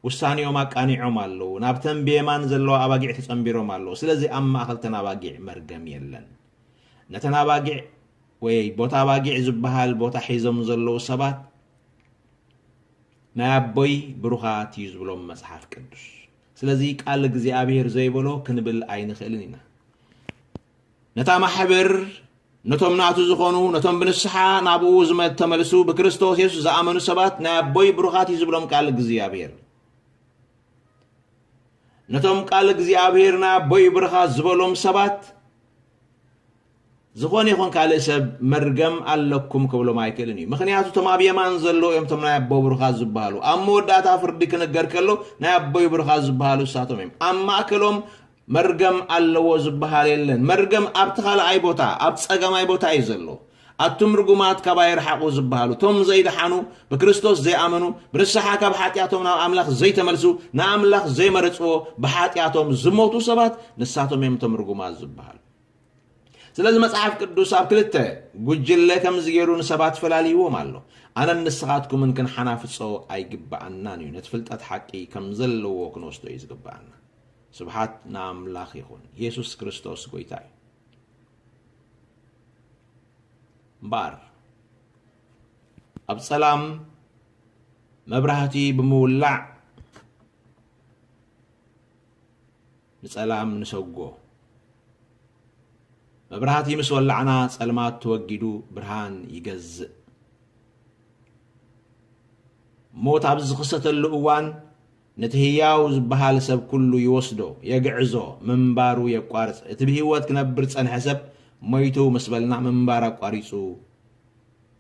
ውሳኔኦም ኣቃኒዖም ኣለዉ፣ ናብተን ብየማን ዘለዋ ኣባጊዕ ተጸንቢሮም ኣለዉ። ስለዚ ኣብ ማእከልተን ኣባጊዕ መርገም የለን። ነተን ኣባጊዕ ወየይ ቦታ ኣባጊዕ ዝበሃል ቦታ ሒዞም ዘለዉ ሰባት፣ ናይ ኣቦይ ብሩኻት እዩ ዝብሎም መጽሓፍ ቅዱስ ስለዚ ቃል እግዚኣብሔር ዘይበሎ ክንብል ኣይንኽእልን ኢና ነታ ማሕበር ነቶም ናቱ ዝኾኑ ነቶም ብንስሓ ናብኡ ዝተመልሱ ብክርስቶስ የሱስ ዝኣመኑ ሰባት ናይ ኣቦይ ብሩኻት እዩ ዝብሎም ቃል እግዚኣብሔር ነቶም ቃል እግዚኣብሔር ናይ ኣቦይ ብሩኻት ዝበሎም ሰባት ዝኾነ ይኹን ካልእ ሰብ መርገም ኣለኩም ክብሎም ኣይክእልን እዩ ምኽንያቱ እቶም ኣብ የማን ዘለዉ እዮም እቶም ናይ ኣቦ ብሩኻት ዝበሃሉ ኣብ መወዳእታ ፍርዲ ክንገር ከሎ ናይ ኣቦይ ብሩኻት ዝበሃሉ እሳቶም እዮም ኣብ ማእከሎም መርገም ኣለዎ ዝበሃል የለን መርገም ኣብቲ ካልኣይ ቦታ ኣብ ጸገማይ ቦታ እዩ ዘሎ ኣቱም ርጉማት ካባይ ርሓቑ ዝበሃሉ እቶም ዘይደሓኑ ብክርስቶስ ዘይኣመኑ ብንስሓ ካብ ሓጢኣቶም ናብ ኣምላኽ ዘይተመልሱ ንኣምላኽ ዘይመረጽዎ ብሓጢኣቶም ዝሞቱ ሰባት ንሳቶም እዮም እቶም ርጉማት ዝበሃሉ ስለዚ መጽሓፍ ቅዱስ ኣብ ክልተ ጉጅለ ከምዚ ገይሩ ንሰባት ፈላልይዎም ኣሎ። ኣነን ንስኻትኩምን ክንሓናፍጾ ኣይግብኣናን እዩ። ነቲ ፍልጠት ሓቂ ከም ዘለዎ ክንወስዶ እዩ ዝግብኣና። ስብሓት ንኣምላኽ ይኹን። የሱስ ክርስቶስ ጎይታ እዩ። እምበኣር ኣብ ጸላም መብራህቲ ብምውላዕ ንጸላም ንሰጎ መብራህቲ ምስ ወላዕና ጸልማት ተወጊዱ ብርሃን ይገዝእ። ሞት ኣብ ዝኽሰተሉ እዋን ነቲ ህያው ዝበሃል ሰብ ኩሉ ይወስዶ፣ የግዕዞ፣ ምንባሩ የቋርጽ። እቲ ብህይወት ክነብር ዝጸንሐ ሰብ ሞይቱ ምስ በልና ምንባር ኣቋሪጹ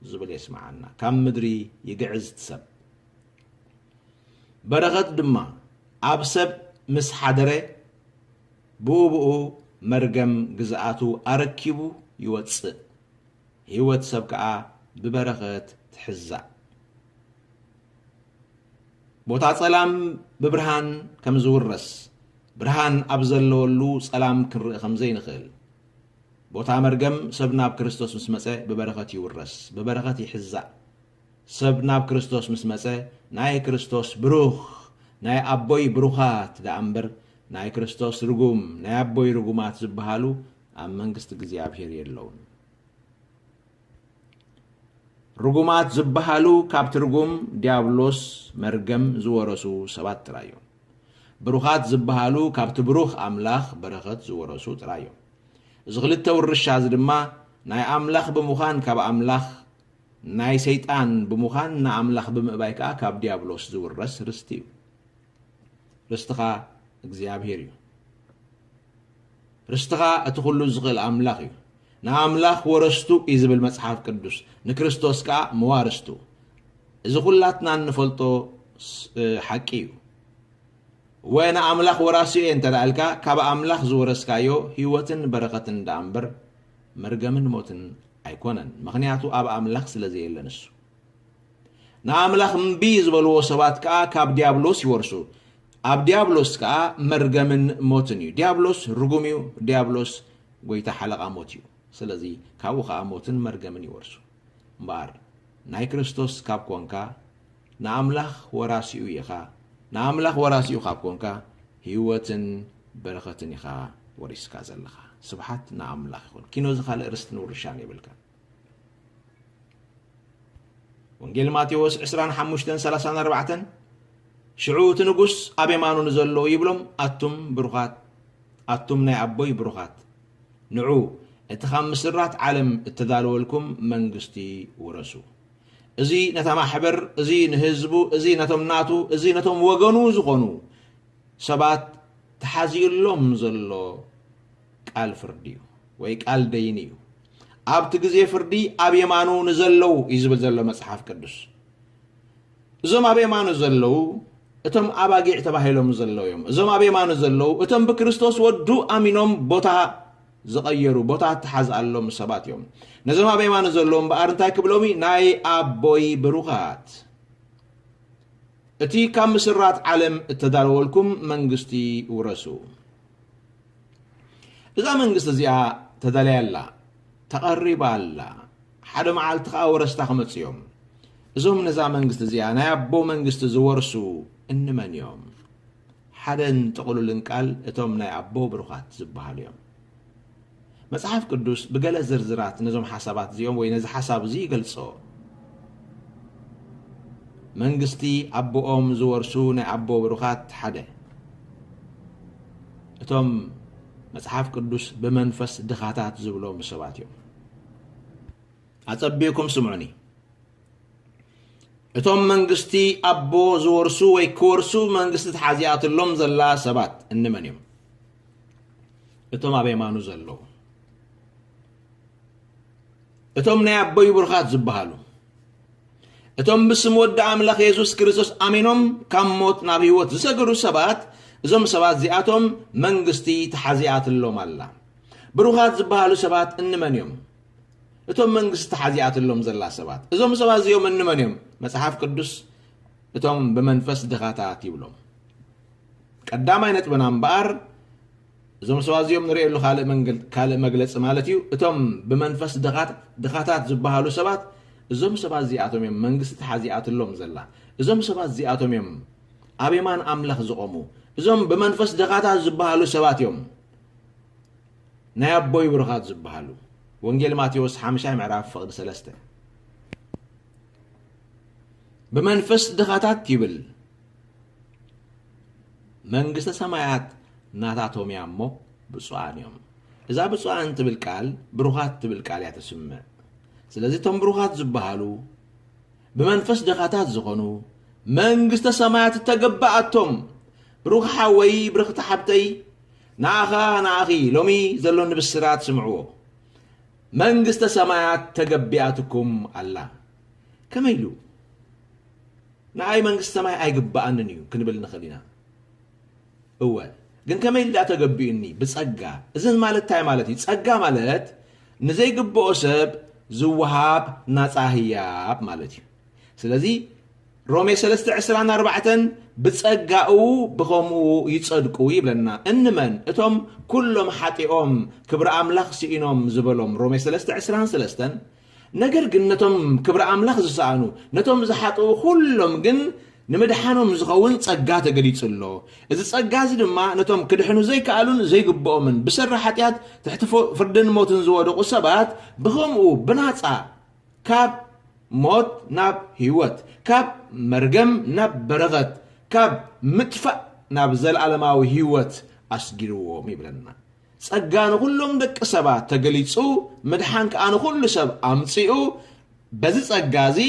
ዝብል የስምዓና። ካብ ምድሪ ይግዕዝ እቲ ሰብ። በረኸት ድማ ኣብ ሰብ ምስ ሓደረ ብኡብኡ መርገም ግዝኣቱ ኣረኪቡ ይወጽእ፣ ህይወት ሰብ ከኣ ብበረኸት ትሕዛእ። ቦታ ጸላም ብብርሃን ከም ዝውረስ፣ ብርሃን ኣብ ዘለወሉ ጸላም ክንርኢ ከም ዘይንኽእል፣ ቦታ መርገም ሰብ ናብ ክርስቶስ ምስ መጸ ብበረኸት ይውረስ፣ ብበረኸት ይሕዛእ። ሰብ ናብ ክርስቶስ ምስ መጸ ናይ ክርስቶስ ብሩኽ ናይ ኣቦይ ብሩኻት ደኣ እምበር ናይ ክርስቶስ ርጉም ናይ ኣቦይ ርጉማት ዝበሃሉ ኣብ መንግስቲ እግዚኣብሄር የለዉን። ርጉማት ዝበሃሉ ካብቲ ርጉም ዲያብሎስ መርገም ዝወረሱ ሰባት ጥራይ እዮም። ብሩኻት ዝበሃሉ ካብቲ ብሩኽ ኣምላኽ በረኸት ዝወረሱ ጥራይ እዮም። እዚ ክልተ ውርሻ እዚ ድማ ናይ ኣምላኽ ብምዃን ካብ ኣምላኽ ናይ ሰይጣን ብምዃን ንኣምላኽ ብምእባይ ከኣ ካብ ድያብሎስ ዝውረስ ርስቲ እዩ። ርስትኻ እግዚኣብሄር እዩ። ርስትኻ እቲ ኩሉ ዝኽእል ኣምላኽ እዩ። ንኣምላኽ ወረስቱ እዩ ዝብል መጽሓፍ ቅዱስ፣ ንክርስቶስ ከኣ መዋርስቱ። እዚ ኩላትና እንፈልጦ ሓቂ እዩ። እወ ንኣምላኽ ወራሲ እየ እንተ ኢልካ፣ ካብ ኣምላኽ ዝወረስካዮ ህይወትን በረኸትን ደኣ እምበር መርገምን ሞትን ኣይኮነን፣ ምኽንያቱ ኣብ ኣምላኽ ስለ ዘየለ ንሱ። ንኣምላኽ እምቢ ዝበልዎ ሰባት ከኣ ካብ ድያብሎስ ይወርሱ፣ ኣብ ድያብሎስ ከኣ መርገምን ሞትን እዩ፣ ድያብሎስ ርጉም እዩ፣ ድያብሎስ ጎይታ ሓለቓ ሞት እዩ፣ ስለዚ ካብኡ ከኣ ሞትን መርገምን ይወርሱ። እምበኣር ናይ ክርስቶስ ካብ ኮንካ፣ ንኣምላኽ ወራሲኡ ኢኻ። ንኣምላኽ ወራሲኡ ካብ ኮንካ ህይወትን በረኸትን ኢኻ ወሪስካ ዘለኻ። ስብሓት ንኣምላኽ ይኹን። ኪኖ ዝኻልእ ርስትን ውርሻን የብልካን። ወንጌል ማቴዎስ ዕስራን ሓሙሽተን ሰላሳን ኣርባዕተን ሽዑ እቲ ንጉስ ኣብ የማኑ ንዘለዉ ይብሎም ኣቱም ብሩኻት ኣቱም ናይ ኣቦይ ብሩኻት ንዑ እቲ ካብ ምስራት ዓለም እተዳለወልኩም መንግስቲ ውረሱ። እዚ ነታ ማሕበር፣ እዚ ንህዝቡ፣ እዚ ነቶም ናቱ፣ እዚ ነቶም ወገኑ ዝኾኑ ሰባት ተሓዚኡሎም ዘሎ ቃል ፍርዲ እዩ ወይ ቃል ደይኒ እዩ። ኣብቲ ግዜ ፍርዲ ኣብ የማኑ ንዘለዉ እዩ ዝብል ዘሎ መጽሓፍ ቅዱስ። እዞም ኣብ የማኑ ዘለዉ እቶም ኣባጊዕ ተባሂሎም ዘለዉ እዮም። እዞም ኣብ የማኑ ዘለዉ እቶም ብክርስቶስ ወዱ ኣሚኖም ቦታ ዝቐየሩ ቦታ እተሓዝኣሎም ሰባት እዮም። ነዞም ኣብ የማነ ዘለዉ እምበኣር እንታይ ክብሎም እዩ? ናይ ኣቦይ ብሩኻት እቲ ካብ ምስራት ዓለም እተዳለወልኩም መንግስቲ ውረሱ። እዛ መንግስቲ እዚኣ ተዳልያ ኣላ፣ ተቐሪባ ኣላ፣ ሓደ መዓልቲ ከዓ ወረስታ ክመፅ እዮም። እዞም ነዛ መንግስቲ እዚኣ ናይ ኣቦ መንግስቲ ዝወርሱ እንመን እዮም? ሓደን ጥቕሉልን ቃል እቶም ናይ ኣቦ ብሩኻት ዝበሃሉ እዮም። መጽሓፍ ቅዱስ ብገለ ዝርዝራት ነዞም ሓሳባት እዚኦም ወይ ነዚ ሓሳብ እዚ ይገልጾ። መንግስቲ ኣቦኦም ዝወርሱ ናይ ኣቦ ብሩኻት ሓደ እቶም መጽሓፍ ቅዱስ ብመንፈስ ድኻታት ዝብሎም ሰባት እዮም። ኣጸቢቕኩም ስምዑኒ። እቶም መንግስቲ ኣቦ ዝወርሱ ወይ ክወርሱ መንግስቲ ተሓዚኣትሎም ዘላ ሰባት እንመን እዮም? እቶም ኣብ የማኑ ዘለዉ እቶም ናይ ኣቦይ ብሩኻት ዝበሃሉ እቶም ብስም ወዲ ኣምላኽ የሱስ ክርስቶስ ኣሚኖም ካብ ሞት ናብ ህይወት ዝሰገዱ ሰባት እዞም ሰባት እዚኣቶም መንግስቲ ተሓዚኣትሎም ኣላ ብሩኻት ዝበሃሉ ሰባት እንመን እዮም እቶም መንግስቲ ሓዚኣትሎም ዘላ ሰባት፣ እዞም ሰባት እዚኦም እንመን እዮም? መጽሓፍ ቅዱስ እቶም ብመንፈስ ድኻታት ይብሎም። ቀዳማይ ነጥብና እምበኣር እዞም ሰባት እዚኦም ንርእየሉ ካልእ መግለፂ ማለት እዩ እቶም ብመንፈስ ድኻታት ዝበሃሉ ሰባት እዞም ሰባት እዚኣቶም እዮም መንግስቲ ተሓዚኣትሎም ዘላ እዞም ሰባት እዚኣቶም እዮም ኣብ የማን ኣምላኽ ዝቖሙ እዞም ብመንፈስ ድኻታት ዝበሃሉ ሰባት እዮም ናይ ኣቦይ ብሩኻት ዝበሃሉ። ወንጌል ማቴዎስ ሓምሻይ ምዕራፍ ፍቕዲ ሰለስተ። ብመንፈስ ድኻታት ይብል መንግስተ ሰማያት ናታቶም እያ እሞ ብፁዓን እዮም። እዛ ብፁዓን ትብል ቃል ብሩኻት ትብል ቃል እያ ትስምዕ። ስለዚ እቶም ብሩኻት ዝበሃሉ ብመንፈስ ድኻታት ዝኾኑ መንግስተ ሰማያት እተገባኣቶም ብሩኽ ሓወይ ብርኽቲ ሓብተይ ንኣኻ ንኣኺ ሎሚ ዘሎኒ ብስራት ስምዕዎ፣ መንግስተ ሰማያት ተገቢኣትኩም ኣላ። ከመይ ኢሉ? ንኣይ መንግስቲ ሰማይ ኣይግብኣንን እዩ ክንብል ንኽእል ኢና። እወ ግን ከመይ ኢሉ ደኣ ተገቢኡኒ? ብጸጋ። እዚ ማለት እንታይ ማለት እዩ? ጸጋ ማለት ንዘይግብኦ ሰብ ዝወሃብ ናጻ ህያብ ማለት እዩ። ስለዚ ሮሜ ሰለስተ ዕስራን ኣርባዕተን ብጸጋኡ ብኸምኡ ይጸድቁ ይብለና። እንመን? እቶም ኩሎም ሓጢኦም ክብሪ ኣምላኽ ስኢኖም ዝበሎም ሮሜ ሰለስተ ዕስራን ሰለስተን ነገር ግን ነቶም ክብሪ ኣምላኽ ዝሰኣኑ ነቶም ዝሓጥኡ ኩሎም ግን ንምድሓኖም ዝኸውን ጸጋ ተገሊጹ ኣሎ። እዚ ጸጋ እዚ ድማ ነቶም ክድሕኑ ዘይከኣሉን ዘይግብኦምን ብሰሪ ሓጢኣት ትሕቲ ፍርድን ሞትን ዝወደቑ ሰባት ብኸምኡ ብናጻ ካብ ሞት ናብ ህይወት፣ ካብ መርገም ናብ በረኸት፣ ካብ ምጥፋእ ናብ ዘለኣለማዊ ህይወት ኣስጊርዎም ይብለና። ጸጋ ንኹሎም ደቂ ሰባት ተገሊጹ፣ ምድሓን ከኣ ንኹሉ ሰብ ኣምጺኡ፣ በዚ ጸጋ እዚ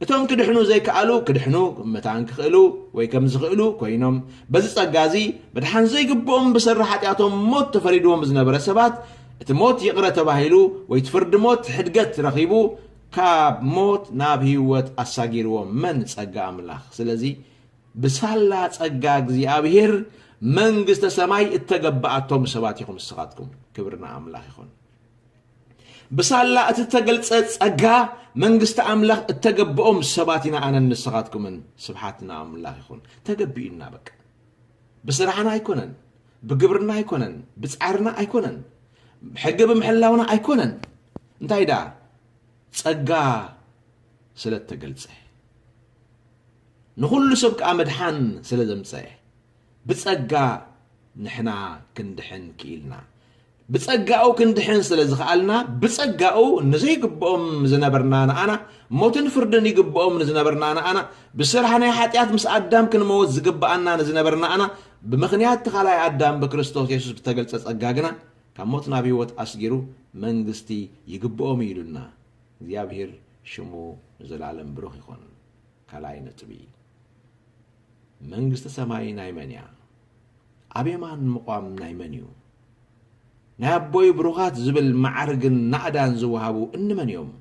እቶም ክድሕኑ ዘይከኣሉ ክድሕኑ መታን ክኽእሉ ወይ ከም ዝኽእሉ ኮይኖም፣ በዚ ጸጋ እዚ ምድሓን ዘይግብኦም ብሰሪ ሓጢኣቶም ሞት ተፈሪድዎም ዝነበረ ሰባት እቲ ሞት ይቕረ ተባሂሉ ወይ እቲ ፍርዲ ሞት ሕድገት ረኺቡ ካብ ሞት ናብ ህይወት ኣሳጊርዎ መን ጸጋ ኣምላኽ ስለዚ ብሳላ ጸጋ እግዚኣብሄር መንግስተ ሰማይ እተገበኣቶም ሰባት ኢኹም ንስኻትኩም ክብሪ ንኣምላኽ ይኹን ብሳላ እቲ እተገልጸ ጸጋ መንግስቲ ኣምላኽ እተገብኦም ሰባት ኢና ኣነን ንስኻትኩምን ስብሓት ንኣምላኽ ይኹን ተገቢኡና በቃ ብስራሕና ኣይኮነን ብግብርና ኣይኮነን ብጻዕርና ኣይኮነን ሕጊ ብምሕላውና ኣይኮነን እንታይ ደኣ ጸጋ ስለ እተገልጸ ንዅሉ ሰብ ከኣ ምድሓን ስለ ዘምጸ ብጸጋ ንሕና ክንድሕን ክኢልና ብጸጋኡ ክንድሕን ስለ ዝኸኣልና፣ ብጸጋኡ ንዘይግብኦም ዝነበርና ንኣና፣ ሞትን ፍርድን ይግብኦም ንዝነበርና ንኣና፣ ብስራሕ ናይ ሓጢኣት ምስ ኣዳም ክንመውት ዝግብኣና ንዝነበር ንኣና፣ ብምኽንያት እቲ ካልኣይ ኣዳም ብክርስቶስ የሱስ ብተገልጸ ጸጋ ግና ካብ ሞት ናብ ህይወት ኣስጊሩ መንግስቲ ይግብኦም እዩ ኢሉና። እግዚኣብሄር ሽሙ ንዘለኣለም ብሩኽ ይኹን። ካልኣይ ነጥቢ፣ መንግስቲ ሰማይ ናይ መን እያ? ኣብ የማን ምቛም ናይ መን እዩ? ናይ ኣቦይ ብሩኻት ዝብል መዓርግን ናእዳን ዝወሃቡ እንመን እዮም?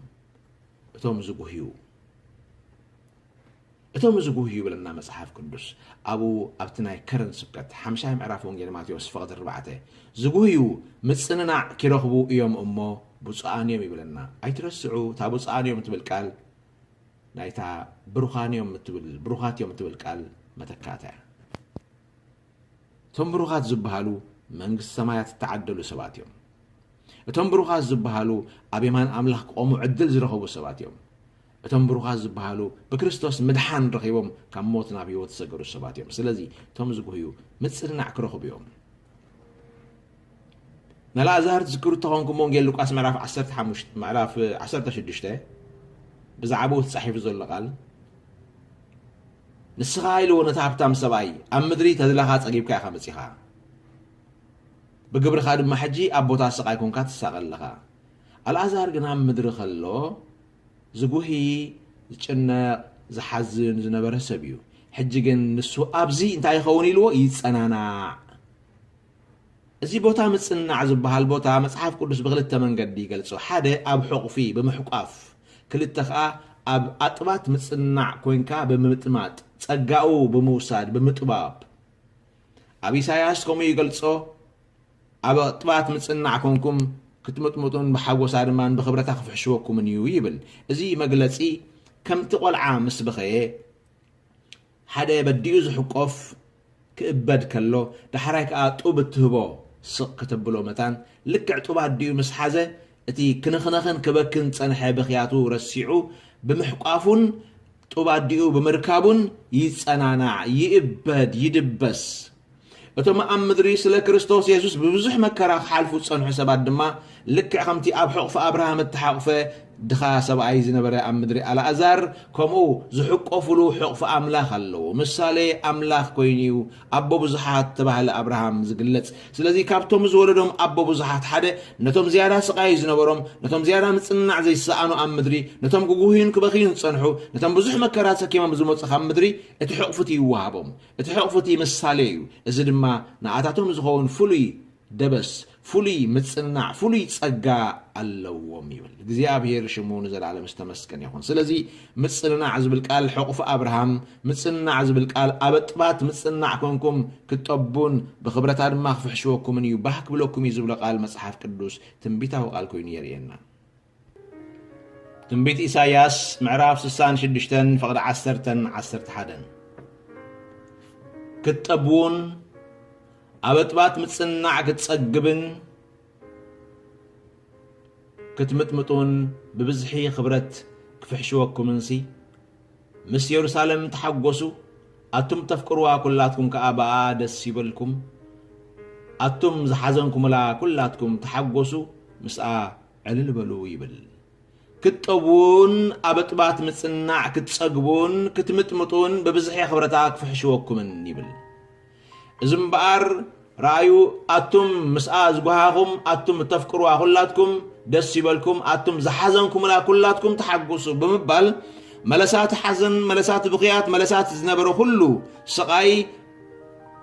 እቶም ዝጉህዩ እቶም ዝጉህ ይብለና መጽሓፍ ቅዱስ ኣብኡ ኣብቲ ናይ ከረን ስብከት ሓምሻይ ምዕራፍ ወንጌል ማቴዎስ ፈቕዲ ኣርባዕተ ዝጉህዩ ምጽንናዕ ኪረኽቡ እዮም እሞ ብፁዓን እዮም ይብለና ኣይትረስዑ እታ ብፁዓን እዮም ትብል ቃል ናይታ ብሩኻን እዮም እትብል ብሩኻት እዮም እትብል ቃል መተካእታ እያ። እቶም ብሩኻት ዝበሃሉ መንግስቲ ሰማያት እተዓደሉ ሰባት እዮም። እቶም ብሩኻት ዝበሃሉ ኣብ የማን ኣምላኽ ክቖሙ ዕድል ዝረኸቡ ሰባት እዮም። እቶም ብሩኻት ዝበሃሉ ብክርስቶስ ምድሓን ረኺቦም ካብ ሞት ናብ ህይወት ዝሰገሩ ሰባት እዮም። ስለዚ እቶም ዝጉህዩ ምጽንናዕ ክረኽቡ እዮም። ነኣልኣዛር ትዝክሩ እተኾንኩም ወንጌል ሉቃስ ምዕራፍ ዓሰርተ ሓሙሽተ ምዕራፍ ዓሰርተ ሽዱሽተ ብዛዕባኡ እቲ ጻሒፉ ዘሎ ቃል ንስኻ ኢልዎ ነቲ ሃብታም ሰብኣይ ኣብ ምድሪ ተድላኻ ጸጊብካ ኢኻ መጺኻ ብግብርኻ ድማ ሕጂ ኣብ ቦታ ስቓይ ኮንካ ትሳቐ ኣለኻ ኣልኣዛር ግን ኣብ ምድሪ ከሎ ዝጉሂ ዝጭነቕ ዝሓዝን ዝነበረ ሰብ እዩ ሕጂ ግን ንሱ ኣብዚ እንታይ ይኸውን ኢልዎ ይጸናናዕ እዚ ቦታ ምጽናዕ ዝበሃል ቦታ መጽሓፍ ቅዱስ ብኽልተ መንገዲ ይገልጾ። ሓደ ኣብ ሕቝፊ፣ ብምሕቋፍ፣ ክልተ ከኣ ኣብ ኣጥባት ምጽናዕ ኰይንካ ብምምጥማጥ፣ ጸጋኡ ብምውሳድ፣ ብምጥባብ። ኣብ ኢሳይያስ ከምኡ ይገልጾ፣ ኣብ ኣጥባት ምጽናዕ ኰንኩም ክትምጥምጡን ብሓጐሳ ድማ ብኽብረታ ክፍሕሽወኩምን እዩ ይብል። እዚ መግለጺ ከምቲ ቈልዓ ምስ በኸየ ሓደ በዲኡ ዝሕቈፍ፣ ክእበድ ከሎ ዳሕራይ ከኣ ጡብ እትህቦ ስቕ ክተብሎ መታን ልክዕ ጡብ ኣዲኡ ምስ ሓዘ እቲ ክንኽነኽን ክበክን ዝጸንሐ ብኽያቱ ረሲዑ ብምሕቋፉን ጡብ ኣዲኡ ብምርካቡን ይጸናናዕ ይእበድ ይድበስ። እቶም ኣብ ምድሪ ስለ ክርስቶስ የሱስ ብብዙሕ መከራ ክሓልፉ ዝጸንሑ ሰባት ድማ ልክዕ ከምቲ ኣብ ሕቑፊ ኣብርሃም እተሓቝፈ ድኻ ሰብኣይ ዝነበረ ኣብ ምድሪ ኣልኣዛር፣ ከምኡ ዝሕቈፍሉ ሕቑፊ ኣምላኽ ኣለዉ። ምሳሌ ኣምላኽ ኰይኑ እዩ ኣቦ ብዙሓት እተባህለ ኣብርሃም ዝግለጽ። ስለዚ፣ ካብቶም ዝወለዶም ኣቦ ብዙሓት ሓደ፣ ነቶም ዝያዳ ስቓይ ዝነበሮም፣ ነቶም ዝያዳ ምጽንናዕ ዘይሰኣኑ ኣብ ምድሪ፣ ነቶም ክጕህዩን ክበኽዩን ዝጸንሑ፣ ነቶም ብዙሕ መከራ ተሰኪሞም ዝመጹ ካብ ምድሪ፣ እቲ ሕቝፊ እቲ ይወሃቦም። እቲ ሕቝፊ እቲ ምሳሌ እዩ፣ እዚ ድማ ንኣታቶም ዝኸውን ፍሉይ ደበስ ፍሉይ ምጽንናዕ ፍሉይ ጸጋ ኣለዎም ይብል። እግዚኣብሄር ሽሙ ንዘለኣለም ዝተመስገነ ይኹን። ስለዚ ምጽንናዕ ዝብል ቃል ሕቑፊ ኣብርሃም ምጽንናዕ ዝብል ቃል ኣበጥባት ምጽንናዕ ኮንኩም ክትጠቡን ብኽብረታ ድማ ክፍሕሽወኩምን እዩ ባህ ክብለኩም እዩ ዝብሎ ቃል መጽሓፍ ቅዱስ ትንቢታዊ ቃል ኮይኑ የርእየና። ትንቢት ኢሳይያስ ምዕራፍ ስሳን ሽዱሽተን ፍቕዲ ዓሰርተን ዓሰርተ ሓደን ክትጠብውን ኣበጥባጥ ምጽናዕ ክትጸግብን ክትምጥምጡን ብብዝሒ ክብረት ክፍሕሽወኩምንሲ ምስ የሩሳለም ተሓጐሱ ኣቱም ተፍቅርዋ ኵላትኩም ከኣ ብኣኣ ደስ ይበልኩም ኣቱም ዝሓዘንኩምላ ኵላትኩም ተሓጐሱ ምስኣ ዕልል በሉ ይብል። ክትጠቡን ኣብ እጥባት ምጽናዕ ክትጸግቡን ክትምጥምጡን ብብዝሒ ክብረታ ክፍሕሽወኩምን ይብል። እዚ እምበኣር ረኣዩ ኣቱም ምስኣ ዝጎሃኹም ኣቱም እተፍቅሩዋ ኩላትኩም ደስ ይበልኩም ኣቱም ዝሓዘንኩምላ ኩላትኩም ተሓጉሱ ብምባል መለሳቲ ሓዘን መለሳቲ ብኽያት መለሳቲ ዝነበረ ኩሉ ስቓይ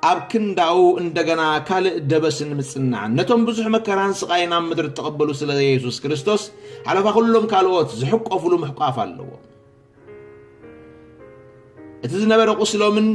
ኣብ ክንዳኡ እንደገና ካልእ ደበስን ምጽናዕን ነቶም ብዙሕ መከራን ስቓይን ኣብ ምድሪ እተቐበሉ ስለ የሱስ ክርስቶስ ሓለፋ ኩሎም ካልኦት ዝሕቆፍሉ ምሕቋፍ ኣለዎም። እቲ ዝነበረ ቁስሎምን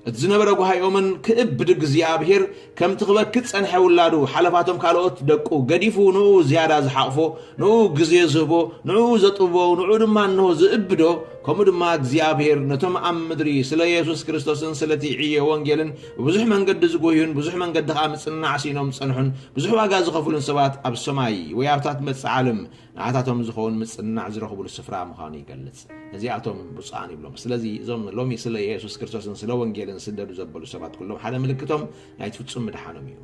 እቲ ዝነበረ ጓሃዮምን ክእብ ብድግ እግዚኣብሄር ከምቲ ክበኪ ጸንሐ ውላዱ ሓለፋቶም ካልኦት ደቁ ገዲፉ ንኡ ዝያዳ ዝሓቕፎ ንኡ ግዜ ዝህቦ ንኡ ዘጥብቦ ንኡ ድማ እንሆ ዝእብዶ ከምኡ ድማ እግዚኣብሔር ነቶም ኣብ ምድሪ ስለ የሱስ ክርስቶስን ስለቲ ዕዮ ወንጌልን ብብዙሕ መንገዲ ዝጎዩን ብዙሕ መንገዲ ከኣ ምጽንናዕ ሲኢኖም ዝጸንሑን ብዙሕ ዋጋ ዝኸፍሉን ሰባት ኣብ ሰማይ ወይ ኣብታት መጽእ ዓለም ንዓታቶም ዝኸውን ምጽንናዕ ዝረኽቡሉ ስፍራ ምዃኑ ይገልጽ። ነዚኣቶም ብፁዓን ይብሎም። ስለዚ እዞም ሎሚ ስለ የሱስ ክርስቶስን ስለ ወንጌልን ስደዱ ዘበሉ ሰባት ኩሎም ሓደ ምልክቶም ናይቲ ፍጹም ምድሓኖም እዩ።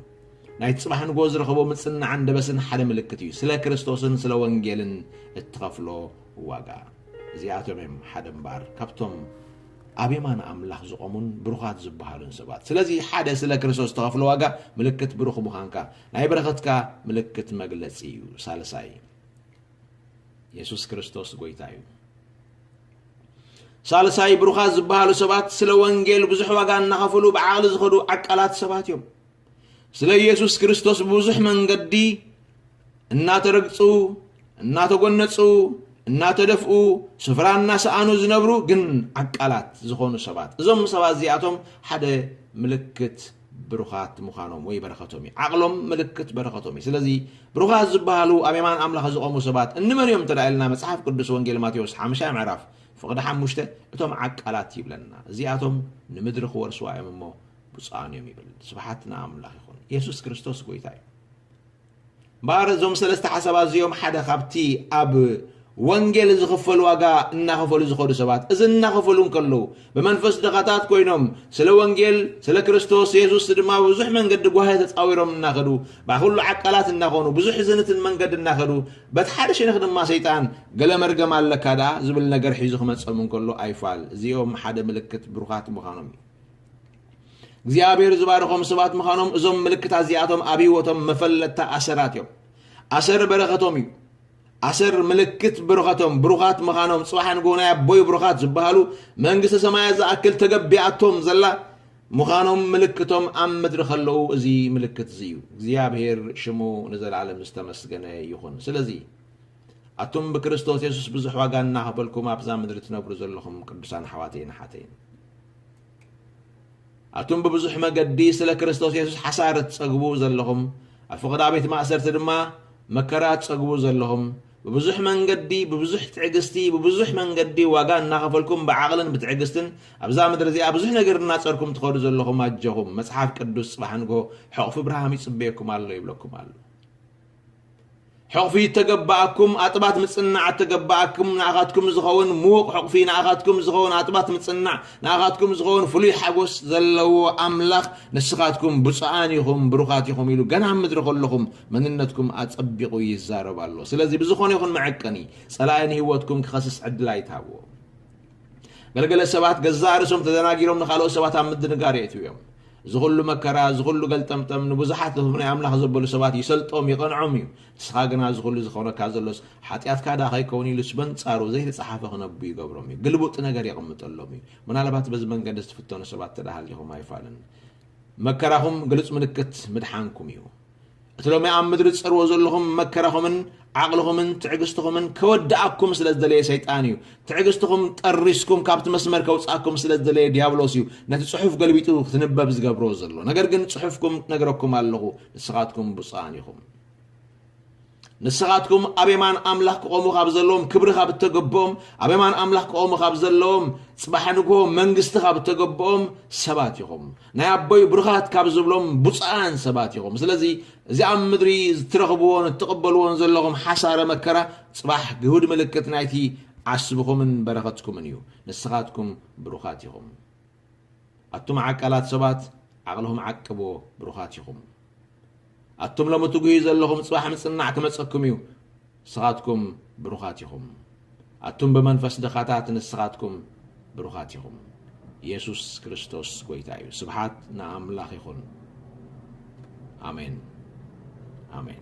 ናይቲ ጽባሕ ንጎ ዝረኸቦ ምጽንናዕን ደበስን ሓደ ምልክት እዩ። ስለ ክርስቶስን ስለ ወንጌልን እትኸፍሎ ዋጋ። እዚኣቶም እዮም ሓደ እምበኣር ካብቶም ኣብ የማን ኣምላኽ ዝቖሙን ብሩኻት ዝበሃሉን ሰባት። ስለዚ ሓደ ስለ ክርስቶስ ዝተኸፍለ ዋጋ ምልክት ብሩኽ ምዃንካ ናይ በረኸትካ ምልክት መግለጺ እዩ። ሳልሳይ የሱስ ክርስቶስ ጎይታ እዩ። ሳልሳይ ብሩኻት ዝበሃሉ ሰባት ስለ ወንጌል ብዙሕ ዋጋ እናኸፍሉ ብዓቕሊ ዝኸዱ ዓቃላት ሰባት እዮም። ስለ ኢየሱስ ክርስቶስ ብብዙሕ መንገዲ እናተረግጹ፣ እናተጎነጹ፣ እናተደፍኡ፣ ስፍራ እናሰኣኑ ዝነብሩ ግን ዓቃላት ዝኾኑ ሰባት እዞም ሰባት እዚኣቶም ሓደ ምልክት ብሩኻት ምዃኖም ወይ በረኸቶም እዩ። ዓቕሎም ምልክት በረኸቶም እዩ። ስለዚ ብሩኻት ዝበሃሉ ኣብ የማን ኣምላኽ ዝቖሙ ሰባት እንመን እዮም እንተ ኢልና መጽሓፍ ቅዱስ ወንጌል ማቴዎስ ሓምሻይ ምዕራፍ ፍቕዲ ሓሙሽተ እቶም ዓቃላት ይብለና። እዚኣቶም ንምድሪ ክወርስዋ እዮም እሞ ብፁዓን እዮም ይብል ስብሓት ንኣምላኽ ይኹን የሱስ ክርስቶስ ጎይታ እዩ እምበኣር እዞም ሰለስተ ሓሳባት እዚኦም ሓደ ካብቲ ኣብ ወንጌል ዝኽፈል ዋጋ እናኸፈሉ ዝኸዱ ሰባት እዚ እናኸፈሉ እንከለዉ ብመንፈስ ድኻታት ኮይኖም ስለ ወንጌል ስለ ክርስቶስ የሱስ ድማ ብዙሕ መንገዲ ጓህ ተፃዊሮም እናኸዱ ባኩሉ ዓቃላት እናኾኑ ብዙሕ ዝንትን መንገዲ እናኸዱ በቲ ሓደ ሸነኽ ድማ ሰይጣን ገለ መርገም ኣለካ ደኣ ዝብል ነገር ሒዙ ክመፀም እንከሎ ኣይፋል እዚኦም ሓደ ምልክት ብሩኻት ምዃኖም እዩ እግዚኣብሔር ዝባረኾም ሰባት ምዃኖም እዞም ምልክታ እዚኣቶም ኣብ ህይወቶም መፈለጥታ ኣሰራት እዮም ኣሰር በረኸቶም እዩ ኣሰር ምልክት ብረኸቶም ብሩኻት ምዃኖም ፅባሕ ንግሆ ናይ ኣቦይ ብሩኻት ዝበሃሉ መንግስቲ ሰማያት ዝኣክል ተገቢኣቶም ዘላ ምዃኖም ምልክቶም ኣብ ምድሪ ከለዉ እዚ ምልክት እዚ እዩ እግዚኣብሔር ሽሙ ንዘለዓለም ዝተመስገነ ይኹን ስለዚ ኣቱም ብክርስቶስ የሱስ ብዙሕ ዋጋ እናሃበልኩም ኣብዛ ምድሪ ትነብሩ ዘለኹም ቅዱሳን ሓዋተይን ሓተይን ኣቱም ብብዙሕ መገዲ ስለ ክርስቶስ የሱስ ሓሳር እትጸግቡ ዘለኹም፣ ኣብ ፍቕዳ ቤት ማእሰርቲ ድማ መከራ እትጸግቡ ዘለኹም፣ ብብዙሕ መንገዲ፣ ብብዙሕ ትዕግስቲ፣ ብብዙሕ መንገዲ ዋጋ እናኸፈልኩም ብዓቕልን ብትዕግስትን ኣብዛ ምድሪ እዚኣ ብዙሕ ነገር እናጸርኩም ትኸዱ ዘለኹም ኣጀኹም፣ መጽሓፍ ቅዱስ ጽባሕ ንግሆ ሕቕፊ ብርሃም ይጽበየኩም ኣሎ ይብለኩም ኣሎ። ሕቕፊ እተገበኣኩም ኣጥባት ምጽንናዕ እተገበኣኩም ንኣኻትኩም ዝኸውን ምዉቕ ሕቕፊ ንኣኻትኩም ዝኸውን ኣጥባት ምጽንናዕ ንኣኻትኩም ዝኸውን ፍሉይ ሓጎስ ዘለዎ ኣምላኽ ንስኻትኩም ብፁዓን ኢኹም ብሩኻት ኢኹም ኢሉ ገና ኣብ ምድሪ ከለኹም መንነትኩም ኣጸቢቑ ይዛረብ ኣሎ ስለዚ ብዝኾነ ይኹን መዐቀኒ ጸላኢ ንህይወትኩም ክኸስስ ዕድል ኣይትሃብዎ ገለገለ ሰባት ገዛእ ርእሶም ተደናጊሮም ንኻልኦት ሰባት ኣብ ምድንጋር የእትው እዮም እዚ ኩሉ መከራ እዚ ኩሉ ገልጠምጠም ንብዙሓት ህዝቢ ናይ ኣምላኽ ዘበሉ ሰባት ይሰልጦም ይቐንዖም እዩ ንስኻ ግና እዚ ኩሉ ዝኾነካ ዘሎስ ሓጢኣትካ ደኣ ከይከውን ኢሉስ በንጻሩ ዘይተጻሓፈ ክነቡ ይገብሮም እዩ ግልቡጥ ነገር የቕምጠሎም እዩ ምናልባት በዚ መንገዲ ዝትፍተኑ ሰባት ተዳሃሊኹም ኣይፋልን መከራኹም ግሉጽ ምልክት ምድሓንኩም እዩ እቲ ሎሚ ኣብ ምድሪ ትጸርዎ ዘለኹም መከራኹምን ዓቕልኹምን ትዕግስትኹምን ከወድኣኩም ስለ ዝደለየ ሰይጣን እዩ። ትዕግስትኹም ጠሪስኩም ካብቲ መስመር ከውጽኣኩም ስለ ዝደለየ ዲያብሎስ እዩ ነቲ ጽሑፍ ገልቢጡ ክትንበብ ዝገብሮ ዘሎ። ነገር ግን ጽሑፍኩም ነግረኩም ኣለኹ፣ ንስኻትኩም ብፁዓን ኢኹም። ንስኻትኩም ኣብ የማን ኣምላኽ ክቖሙ ካብ ዘለዎም ክብሪ ካብ እተገብኦም ኣብ የማን ኣምላኽ ክቖሙ ካብ ዘለዎም ጽባሕ ንግሆ መንግስቲ ካብ እተገብኦም ሰባት ኢኹም ናይ ኣቦይ ብሩኻት ካብ ዝብሎም ብፁዓን ሰባት ኢኹም ስለዚ እዚ ኣብ ምድሪ እትረኽብዎን እትቕበልዎን ዘለኹም ሓሳረ መከራ ጽባሕ ግሁድ ምልክት ናይቲ ዓስብኹምን በረኸትኩምን እዩ ንስኻትኩም ብሩኻት ኢኹም ኣቱም ዓቃላት ሰባት ዓቅልኹም ዓቅብዎ ብሩኻት ኢኹም ኣቱም ሎሚ ትጉህዩ ዘለኹም ጽባሕ ምጽናዕ ክመጸኩም እዩ ንስኻትኩም ብሩኻት ኢኹም ኣቱም ብመንፈስ ድኻታት ንስኻትኩም ብሩኻት ኢኹም የሱስ ክርስቶስ ጎይታ እዩ ስብሓት ንኣምላኽ ይኹን ኣሜን ኣሜን